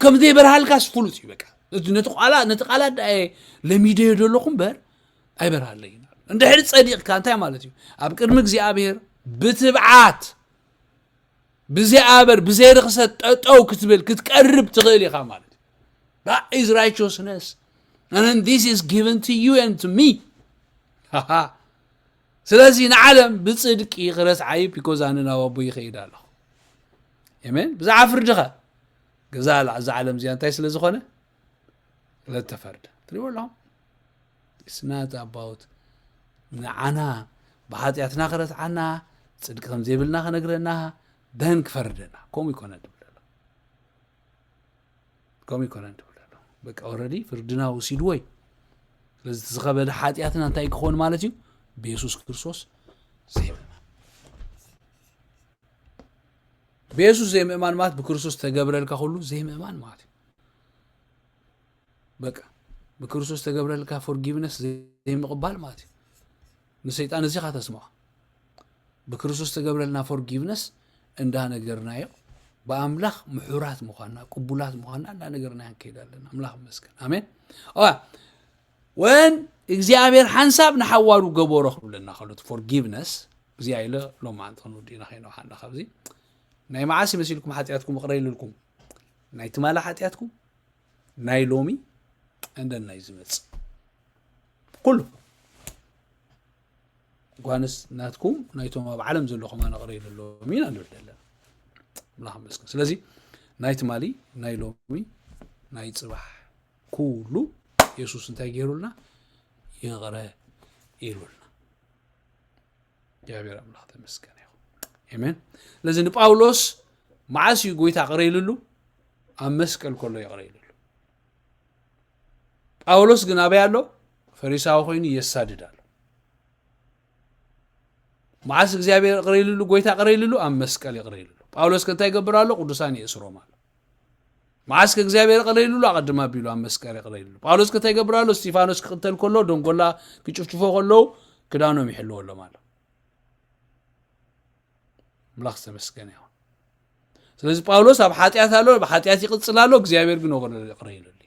ከም ዘይበርሃልካስ ፍሉጥ እዩ በቃ እቲ ነቲ ቃላት ነቲ ቃላት ደኣ እየ ለሚደዮ ዘለኹ እምበር ኣይበርሃለይን ኣሎ እንድሕሪ ጸዲቕካ እንታይ ማለት እዩ ኣብ ቅድሚ እግዚኣብሔር ብትብዓት ብዘይ ኣበር ብዘይ ርኽሰት ጠጠው ክትብል ክትቀርብ ትኽእል ኢኻ ማለት እዩ that is righteousness and then this is given to you and to me ሃሃ ስለዚ ንዓለም ብጽድቂ ክረስዓ እዩ ቢኮዝ ኣነ ናብ ኣቦ ይኸይድ ኣለኹ ኤሜን ብዛዕባ ፍርድኸ ገዛ እዛ ዓለም እዚኣ እንታይ ስለ ዝኾነ ስለተፈርደ ትሪእዎ ኣለኹም ስናት ኣባውት ንዓና ብሓጢኣትና ክረስዓና ጽድቂ ከም ዘይብልና ክነግረና ደን ክፈርደና ከምኡ ይኮነ ከምኡ ይኮነን ትብል ኣሎ በቃ ኦረዲ ፍርድና ወሲድዎ እዩ ስለዚ እቲ ዝኸበደ ሓጢኣትና እንታይ እዩ ክኸውን ማለት እዩ ብየሱስ ክርስቶስ ዘይምእማን ብየሱስ ዘይምእማን ማለት ብክርስቶስ ተገብረልካ ኩሉ ዘይምእማን ማለት እዩ በቃ ብክርስቶስ ተገብረልካ ፎርጊቭነስ ዘይምቕባል ማለት እዩ ንሰይጣን እዚኻ ተስምዖ ብክርስቶስ ተገብረልና ፎርጊቭነስ እንዳነገርናዮ ብኣምላኽ ምሑራት ምዃንና ቅቡላት ምዃንና እንዳነገርናዮ ንከይድ ኣለና ኣምላኽ መስገን ኣሜን ወን እግዚኣብሔር ሓንሳብ ንሓዋሩ ገበሮ ክብለና ከሎ ፎርጊቭነስ እዚ ኣይለ ሎም መዓንቲ ክንውዲእና ከይነውሓና ካብዚ ናይ መዓስ ይመስልኩም ሓጢኣትኩም እቕረ ይልልኩም ናይ ትማላ ሓጢኣትኩም ናይ ሎሚ እንደናይ ዝመፅእ ኩሉ ጓንስ ናትኩም ናይቶም ኣብ ዓለም ዘለኹም ኣነቕረይለሎም ኢና ንብል ዘለና ኣምላኽ መስገን ስለዚ ናይ ትማሊ ናይ ሎሚ ናይ ፅባሕ ኩሉ የሱስ እንታይ ገይሩልና ይቕረ ኢሉልና እግዚኣብሔር ኣምላኽ ተመስገን ይኹ ኣሜን ስለዚ ንጳውሎስ መዓስ እዩ ጎይታ ቅረ ኢልሉ ኣብ መስቀል ከሎ ይቕረ ኢልሉ ጳውሎስ ግን ኣበይ ኣሎ? ፈሪሳዊ ኮይኑ የሳድድ ኣሎ። መዓስ እግዚኣብሔር ይቕረ ኢልሉ ጎይታ ይቕረ ኢልሉ ኣብ መስቀል ይቕረ ኢልሉ ጳውሎስ ከእንታይ ይገብር ኣሎ ቅዱሳን የእስሮም ኣሎ መዓስ ከእግዚኣብሔር ይቕረ ኢልሉ ኣቐድማ ኣቢሉ ኣብ መስቀል ይቕረ ኢልሉ ጳውሎስ ከእንታይ ይገብር ኣሎ እስጢፋኖስ ክቕተል ከሎ ደንጎላ ክጭፍጭፎ ከለዉ ክዳኖም ይሕልወሎም ኣሎ ኣምላኽ ዝተመስገነ ይኹን ስለዚ ጳውሎስ ኣብ ሓጢኣት ኣሎ ብሓጢኣት ይቕፅል ኣሎ እግዚኣብሔር ግን ወገዶ ይቕረ ኢሉሉ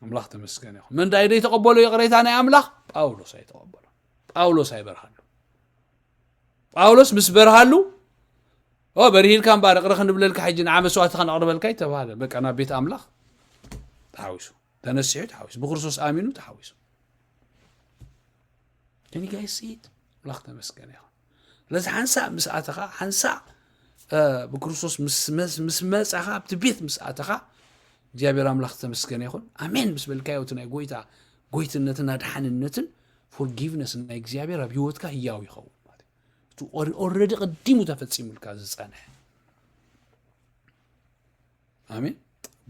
ኣምላኽ ተመስገን ይኹን መን ዳይ ዘይተቐበሎ ይቕሬታ ናይ ኣምላኽ ጳውሎስ ኣይተቐበሎ ጳውሎስ ኣይበርሃሉ ጳውሎስ ምስ በርሃሉ ኦ በርሂልካ እምበኣር እቕረ ክንብለልካ ሕጂ ንዓ መስዋእቲ ከነቕርበልካ ይተባሃለ በቃ ናብ ቤት ኣምላኽ ተሓዊሱ ተነሲሑ ተሓዊሱ ብክርስቶስ ኣሚኑ ተሓዊሱ ግን ጋይስ ኢት ኣምላኽ ተመስገን ይኹን ስለዚ ሓንሳእ ምስ ኣተኻ ሓንሳእ ብክርስቶስ ምስ መጻኻ ኣብቲ ቤት ምስ ኣተኻ እግዚኣብሔር ኣምላኽ ዝተመስገነ ይኹን ኣሜን ምስ በልካዮ እቲ ናይ ጎይታ ጎይትነትን ኣድሓንነትን ፎርጊቭነስ ናይ እግዚኣብሔር ኣብ ህይወትካ ህያው ይኸውን ማለት እዩ እቲ ኦረዲ ቅዲሙ ተፈጺሙልካ ዝጸንሐ ኣሜን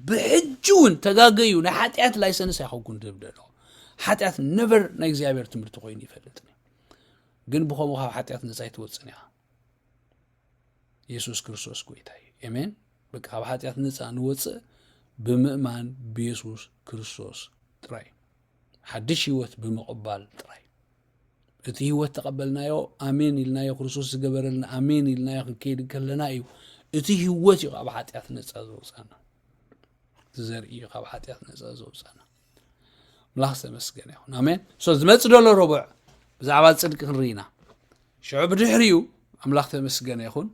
ብሕጂ እውን ተጋገዩ ናይ ሓጢኣት ላይሰንስ ኣይኸውኩን ዝብል ደለኹ ሓጢኣት ነበር ናይ እግዚኣብሔር ትምህርቲ ኮይኑ ይፈልጥኒ ግን ብከምኡ ካብ ሓጢኣት ነፃ ይትወፅን እያ የሱስ ክርስቶስ ጎይታ እዩ ኤሜን በቃ ካብ ሓጢኣት ነፃ ንወፅእ ብምእማን ብየሱስ ክርስቶስ ጥራይ ሓድሽ ህይወት ብምቕባል ጥራይ እዩ። እቲ ህይወት ተቐበልናዮ ኣሜን ኢልናዮ ክርስቶስ ዝገበረልና ኣሜን ኢልናዮ ክንከይድ ከለና እዩ። እቲ ህይወት እዩ ካብ ሓጢኣት ነፃ ዘውፃና እቲ ዘርኢ እዩ ካብ ሓጢኣት ነፃ ዘውፃና ኣምላኽ ዝተመስገነ ይኹን ኣሜን ሶ ዝመፅ ደሎ ረቡዕ ብዛዕባ ፅድቂ ክንርኢና ሽዑ ብድሕሪኡ ኣምላኽ ተመስገነ ይኹን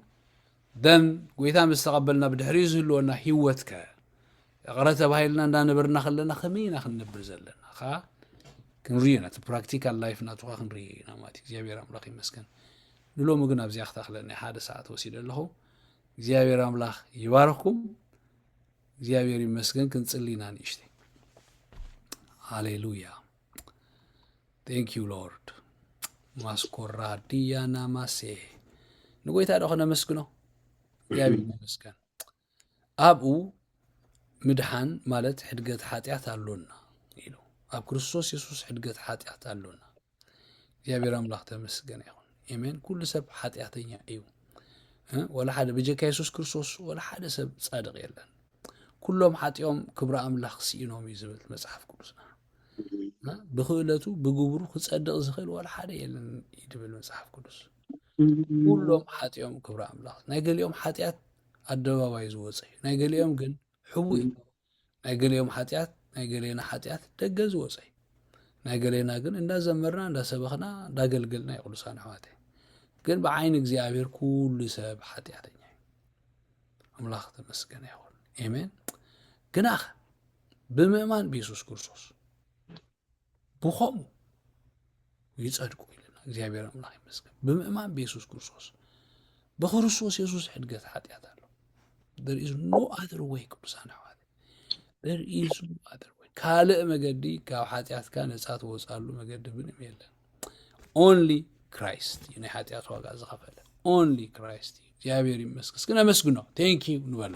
ደን ጎይታ ምስ ተቐበልና ብድሕሪኡ ዝህልወና ህይወት ከ እቕረ ተባሂልና እንዳነበርና ከለና ከመይ ኢና ክንነብር ዘለና ከ ክንሪኦ ኢና እቲ ፕራክቲካል ላይፍ ናቱካ ክንርኢ ኢና ማለት እዩ እግዚኣብሔር ኣምላኽ ይመስገን ንሎሚ ግን ኣብዚኣ ክተኽለኒ ሓደ ሰዓት ወሲደ ኣለኹ እግዚኣብሔር ኣምላኽ ይባርኽኩም እግዚኣብሔር ይመስገን ክንጽሊ ኢና ንእሽተይ ሃሌሉያ ቴንክ ዩ ሎርድ ማስኮራ ድያና ማሴ ንጎይታ ዶ ከነመስግኖ እግዚኣብሔር ይመስገን ኣብኡ ምድሓን ማለት ሕድገት ሓጢኣት ኣሎና ኢሉ ኣብ ክርስቶስ የሱስ ሕድገት ሓጢኣት ኣሎና እግዚኣብሔር ኣምላኽ ተመስገነ ይኹን ኤሜን ኩሉ ሰብ ሓጢኣተኛ እዩ ወላ ሓደ ብጀካ የሱስ ክርስቶስ ወላ ሓደ ሰብ ጻድቕ የለን ኩሎም ሓጢኦም ክብሪ ኣምላኽ ስኢኖም እዩ ዝብል መጽሓፍ ቅዱስና ብክእለቱ ብግብሩ ክጸድቕ ዝኽእል ዋላ ሓደ የለን እዩ ድብል መጽሓፍ ቅዱስ ኩሎም ሓጢኦም ክብሪ ኣምላኽ ናይ ገሊኦም ሓጢኣት ኣደባባይ ዝወፀ እዩ ናይ ገሊኦም ግን ሕቡ እዩ ናይ ገሊኦም ሓጢኣት ናይ ገሌና ሓጢኣት ደገ ዝወፀ እዩ ናይ ገሌና ግን እንዳዘመርና እንዳሰበኽና እንዳገልገልና እዩ ቅዱሳን ኣሕዋተ ግን ብዓይኒ እግዚኣብሔር ኩሉ ሰብ ሓጢኣተኛ እዩ ኣምላኽ ተመስገነ ይኹን ኤሜን ግናኸ ብምእማን ብየሱስ ክርስቶስ ብኸምኡ ይጸድቁ ኢልና እግዚኣብሔር ኣምላኽ ይመስገን ብምእማን ብየሱስ ክርስቶስ ብክርስቶስ የሱስ ሕድገት ሓጢኣት ኣሎ ር ኢዝ ኖ ኣዘር ወይ ቅዱሳን ኣሕዋት ካልእ መገዲ ካብ ሓጢኣትካ ነፃ ትወፅኣሉ መገዲ ምንም የለን ኦንሊ ክራይስት እዩ ናይ ሓጢኣት ዋጋ ዝኸፈለ ኦንሊ ክራይስት እዩ እግዚኣብሔር ይመስገን እስኪ ነመስግኖ ቴንኪዩ ንበሎ